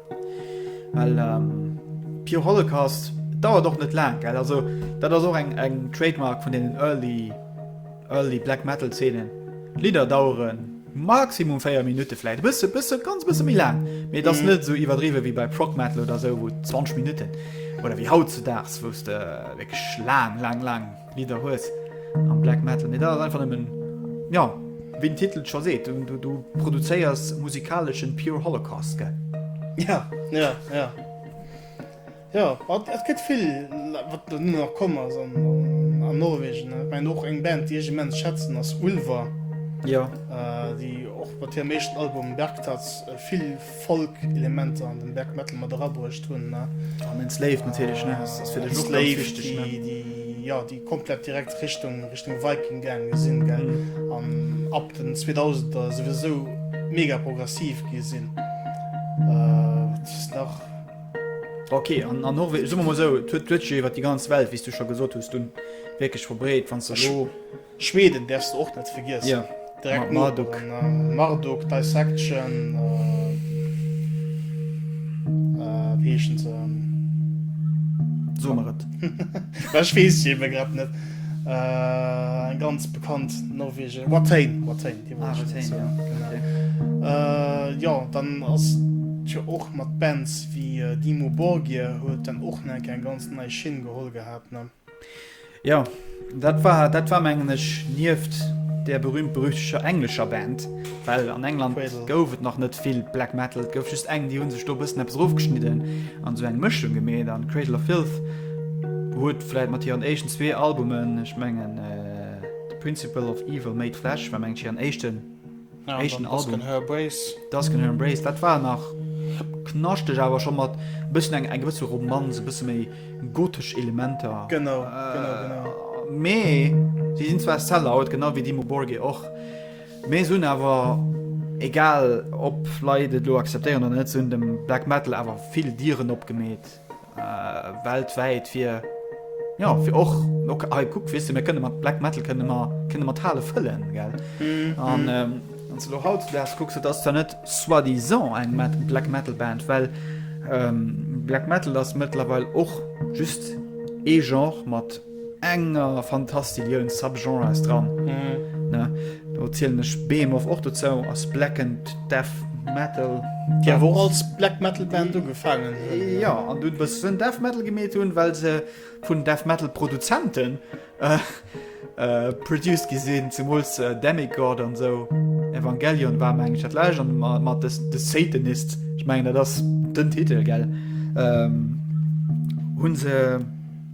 [SPEAKER 2] Well ähm, Pure Holocaust dauert och net laang gell. Also dat ass och eng eng Trademark vun den early early Black Metal Zeenen. Lieder daueren maximum 4 Minuten vielleicht bist du bist du ganz bisschen wie lang mir das mhm. nicht so überdrieben wie bei Proc metal oder so wo 20 Minuten oder wie haut zu das wusste äh, wirklich lang lang lang Lidder hues am Black Metal, mee dat ass einfach nëmmen, jo, wéi den Titel et scho seet, du produzéiers musikaleschen pure Holocaust, gell? Ja,
[SPEAKER 1] ja, ja. Jo, et gëtt vill, wat elo nach komm ass an Norwegen. Ech mengen och eng Band, déi ech immens schätzen, ass Ulver,
[SPEAKER 2] déi
[SPEAKER 1] och mat hirem éischten Album Bergtatt vill, Folk-Elementer an den Black Metal mat erabruecht hunn. An
[SPEAKER 2] den Slave natierlech,
[SPEAKER 1] ne?
[SPEAKER 2] Ass fir
[SPEAKER 1] dech och
[SPEAKER 2] ganz
[SPEAKER 1] wichteg, ne?
[SPEAKER 2] Slave,
[SPEAKER 1] déi,
[SPEAKER 2] jo,
[SPEAKER 1] déi komplett direkt Richtung, Richtung Viking gaange sinn, gell? An ab den 2000er souwisou mega progressiv gi sinn. Wat ass nach? Ok,
[SPEAKER 2] an, an Norwe, soe mer mol esou, et huet, huet sech jo iwwer déi ganz Welt, wéi s du scho gesot hues, dunn wierklech verbreet, wann s de elo. Schweden därfs
[SPEAKER 1] de och net vergiessen. Direkt Marduk.
[SPEAKER 2] Marduk,
[SPEAKER 1] Dissection. Wéi heeschen se? So
[SPEAKER 2] mer et. Ech weess
[SPEAKER 1] et eben grad net. Eng ganz bekannt norwegesch. Watain, Watain, déi wollt ech net soen. Genau. Jo, dann ass et jo och mat Bands wéi Dimmu Borgir huet dann och nach eng ganz nei Schinn geholl gehat, ne? Jo,
[SPEAKER 2] dat war, dat war mengen ech nieft der berühmt-berüchteger englescher Band, well an England Cradle. gouf et nach net vill Black Metal. Et gouf just eng, déi hu sech do e bëssen eppes erofgeschnidden an esou eng Mëschung gemeet. An Cradle of Filth huet vläicht mat hiren éischten zwee Albumen, ech mengen The Principle of Evil Made Flesh war mengen ech hiren éischten, Eischten Album. Dusk and Her Embrace, dat war nach knaschteg awer scho mat e bëssen eng eng gewësse Romanz, e bësse méi gotesch Elementer. Mee si sinn zwar Sellout, genau wéi Dimmu Borgir och, mee se hunn awer, egal ob Leit et elo acceptéieren oder net, se hunn dem Black Metal awer vill Dieren opgemeet. äh, weltwäit fir ja fir och okay, ah, guck wisse mir kënne mat Black Metal kënne mer kënne mat Hale fëllen gell mhm. an ähm, lo haut wärst gucks du dass da net soit disant eng Met Black Metal Band well ähm, Black Metal ass mëttlerweil och just e genre mat enger Fantastillioun Subgenres dran. Do zielen ech Behemoth och dozou, ass Black and Death Metal. Déi awer och als
[SPEAKER 1] Black Metal Band ugefaangen hunn. Jo, an dunn e
[SPEAKER 2] bëssen Death Metal gemeet hunn, well se vun Death Metal Produzenten produced gi sinn, zemools Demigod an esou. Evangelion war, mengen ech, dat lescht. An mat The Satanists, ech mengen dat ass den Titel, gell, hunn se.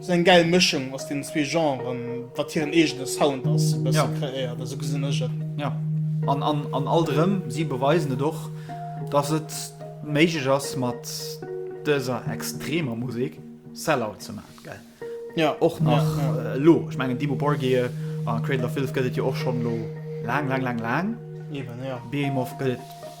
[SPEAKER 1] Sou eng gäil Mëschung aus den zwee Genren, wat hiren eegene Sound ass, e bësse kreéiert. Esou gesinn ech et. Ja, an,
[SPEAKER 2] an, an alt erëm, si beweisen et och, dass et méiglech ass, mat dëser extremer Musek Sell-Out ze man, gell? Ja. Och
[SPEAKER 1] nach
[SPEAKER 2] elo. Ech mengen, Dimmu Borgir a Cradle of Filth gëtt et jo och schonn elo laang, laang, laang, laang.
[SPEAKER 1] Eben, ja. Behemoth gëtt et.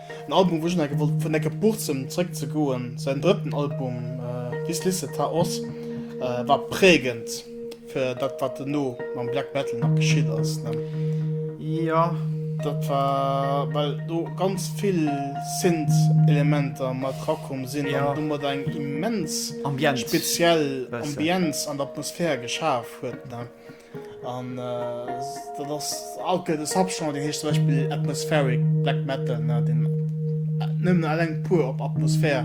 [SPEAKER 1] En Album wou ech enke wollt vun enke Burzem zréck ze goen. Säin drëtten Album This Lisse Ta Os war präägend fir dat wat dono mam Black Metal nach geschitt ass ne? Jo
[SPEAKER 2] dat
[SPEAKER 1] war well do ganz vill Synth Elementer mat rakomm sinn an domat eng immens speziell Ambienz an Atmosphär geschaf huet ne? An dat ass alt gëtt e Subgenre, dee heescht zum Beispill Atmospheric Black Metal, deen nëmmen eleng puer op Atmosphär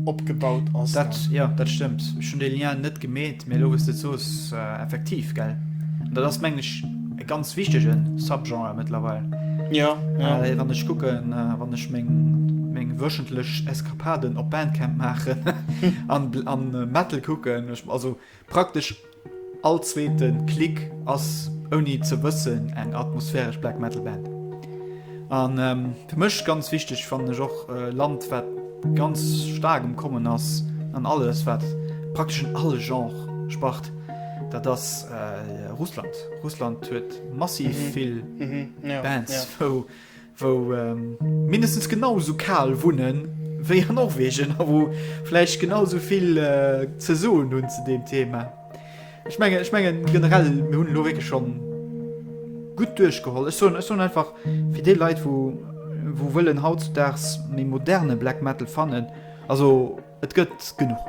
[SPEAKER 1] opgebaut ass. Dat, jo, dat stëmmt.
[SPEAKER 2] Ech hunn dee Lien net gemeet, mee elo wou s de et soos, effektiv, gell. An dat ass, mengen ech, e ganz wichtege Subgenre mëttlerweil. Jo,
[SPEAKER 1] jo. Wann ech
[SPEAKER 2] kucken, wann ech meng wöchentlech Eskapaden op Bandcamp maachen an Metal kucken, also Praktesch all zweete Klick ass ouni ze wëssen eng atmosphäresch Black Metal Band. An fir mech ganz wichteg fannen ech och e Land wat ganz staark um Kommen ass an alles wat praktesch un alle Genre spart, dat ass Russland. Russland huet massiv vill Bands wou. wou mindestens genau esou kal wunne wéi an Norwegen a wou vläicht genau esou vill ze soen hunn zu deem Thema. Ech menge ech menge generell mir hunn lo wéke schon gutt duerchgeholl. Ech soen ech soen einfach fir dee Leit wou wou wëllen hautzudags méi moderne Black Metal fannen also. Et gëtt genuch.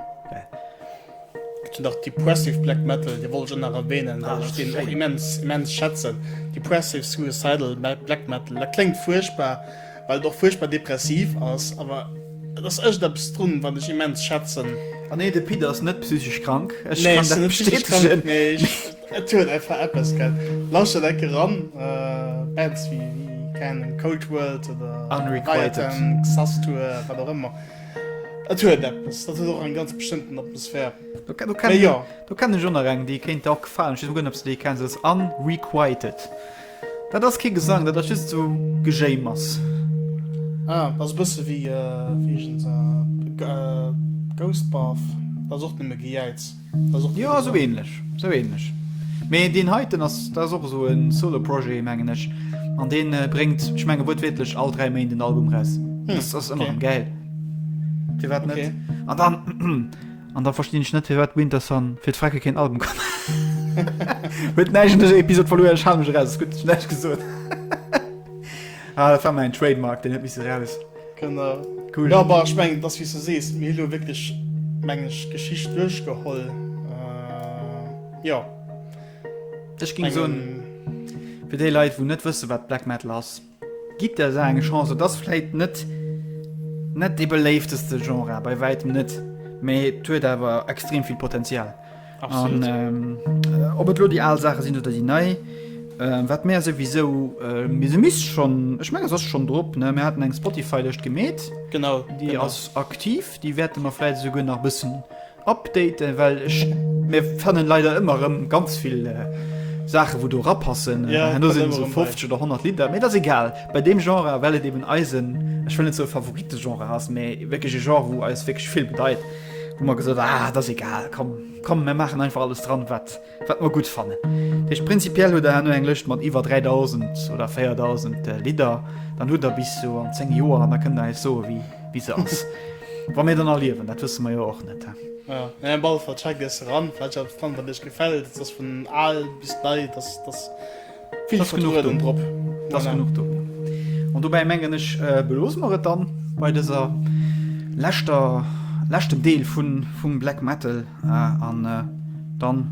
[SPEAKER 2] Gëtt jo nach
[SPEAKER 1] Depressive Black Metal, dee wollt ech och nach erwänen, well ech deen och immens,
[SPEAKER 2] immens
[SPEAKER 1] schätzen. Depressive Suicidal Black Metal, dat kléngt fuerchtbar, well et och fuerchtbar depressiv ass, awer et ass iergendeppes drun, wat ech immens schätzen. A nee, de Pit ass
[SPEAKER 2] net psychesch krank, ech kann dat bestätegen. Nee, ech, et
[SPEAKER 1] huet einfach eppes, gell. Lauschtert enke ran, Bands wéi, keng Ahnung, Cold World oder Unrequited,
[SPEAKER 2] Xasthur,
[SPEAKER 1] wat och ëmmer. Et huet eppes, dat huet och eng ganz bestëmmten Atmosphär. Do, do, kenn, ja.
[SPEAKER 2] do
[SPEAKER 1] kenn ech
[SPEAKER 2] ënner
[SPEAKER 1] eng,
[SPEAKER 2] déi kéint och gefallen. Ich gucken, ob du déi kennst. Das ist Unrequited. Dat ass kee Gesang, dat ass just so Gejéimers.
[SPEAKER 1] Ah, das bësse wie, äh, wie äh, Ghost Bath. Das ass och nëmme Gejäiz. Jo sou
[SPEAKER 2] ähnlech sou ähnlech mee deen heiten ass dat ass och esou en solo projet mengen ech an deen bréngt ech menge wuertwiertlech all 3 Méint en Album raus hm, ass ass ëmmer okay. gäil firwat net okay. an dann an da verstinn ech net firwat Winterson fir d'Frecke keen Album kann huet neigen Episode verloren schaumech raus gut net gesot ah, dat war mein Trademark den net mis raus. Kënner.
[SPEAKER 1] Cool. Ja, bah, ech
[SPEAKER 2] mengen, dass, wéi
[SPEAKER 1] s du sees, mir hu lo wierklech, mengen ech, d'Geschicht duerchgeholl. Äh, jo.
[SPEAKER 2] Ech géing soen, fir déi Leit, wou net wësse wat Black Metal ass, gitt der Saach eng Chance. Et ass vläit net, net dee beléifteste Genre, bei wäitem net, mee et huet awer extrem vill Potenzial. An ob et lo déi al Saache sinn oder déi nei, wat mär souwisou, mee se misst schonn, ech mengen se ass schonn drop, ne, mär haten eng Spotify-Lëscht gemeet. Genau. Déi ass aktiv,
[SPEAKER 1] déi
[SPEAKER 2] wäerte mer vläit esouguer nach e bëssen updaten, well ech, mir fannen leider ëmmer erëm ganz vill Saache wou do erapassen, an do sinn esou 50
[SPEAKER 1] oder 100
[SPEAKER 2] Lidder, mee et ass egal bei deem Genre, well et eben eisen, ech wëll net soe Favoritegenre ass, mee wierklech e Genre wou eis wierklech vill bedeit. hu mer gesot, ah, et ass egal, komm, komm, mir maachen einfach alles dran, wat, wat mer gutt fannen. Dat heescht, prinzipiell hutt Der herno eng Lëscht mat iwwer 3.000 oder 4.000 Lidder. Dann hutt Der bis sou an 10 Joer an da kënnt Der eis soen, wéi, wéi se ass. Wa mir dann erliewen, dat wësse mer jo och net, he. Jo, mee op alle
[SPEAKER 1] Fall, check dës eran, wat Dir alles dran hutt, wat Iech gefält. Et ass vun al bis nei, et ass, et ass. Vill Vertraueden drop.
[SPEAKER 2] Dat
[SPEAKER 1] ass genuch
[SPEAKER 2] do. An dobäi mengen ech, beloosse mer et dann bei dëser leschter, leschtem Deel vum Black Metal. An dann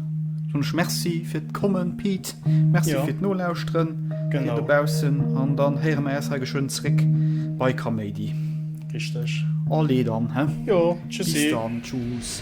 [SPEAKER 2] soen ech Merci fir d'Kommen, Pete. Merci fir d'Nolauschteren, dir dobaussen.
[SPEAKER 1] An dann
[SPEAKER 2] héiere mer äis hei geschwënn zréck bei Kaméidi. Richteg.
[SPEAKER 1] Allez dann, he?
[SPEAKER 2] Jo, tschüssi. Bis dann, tschüss.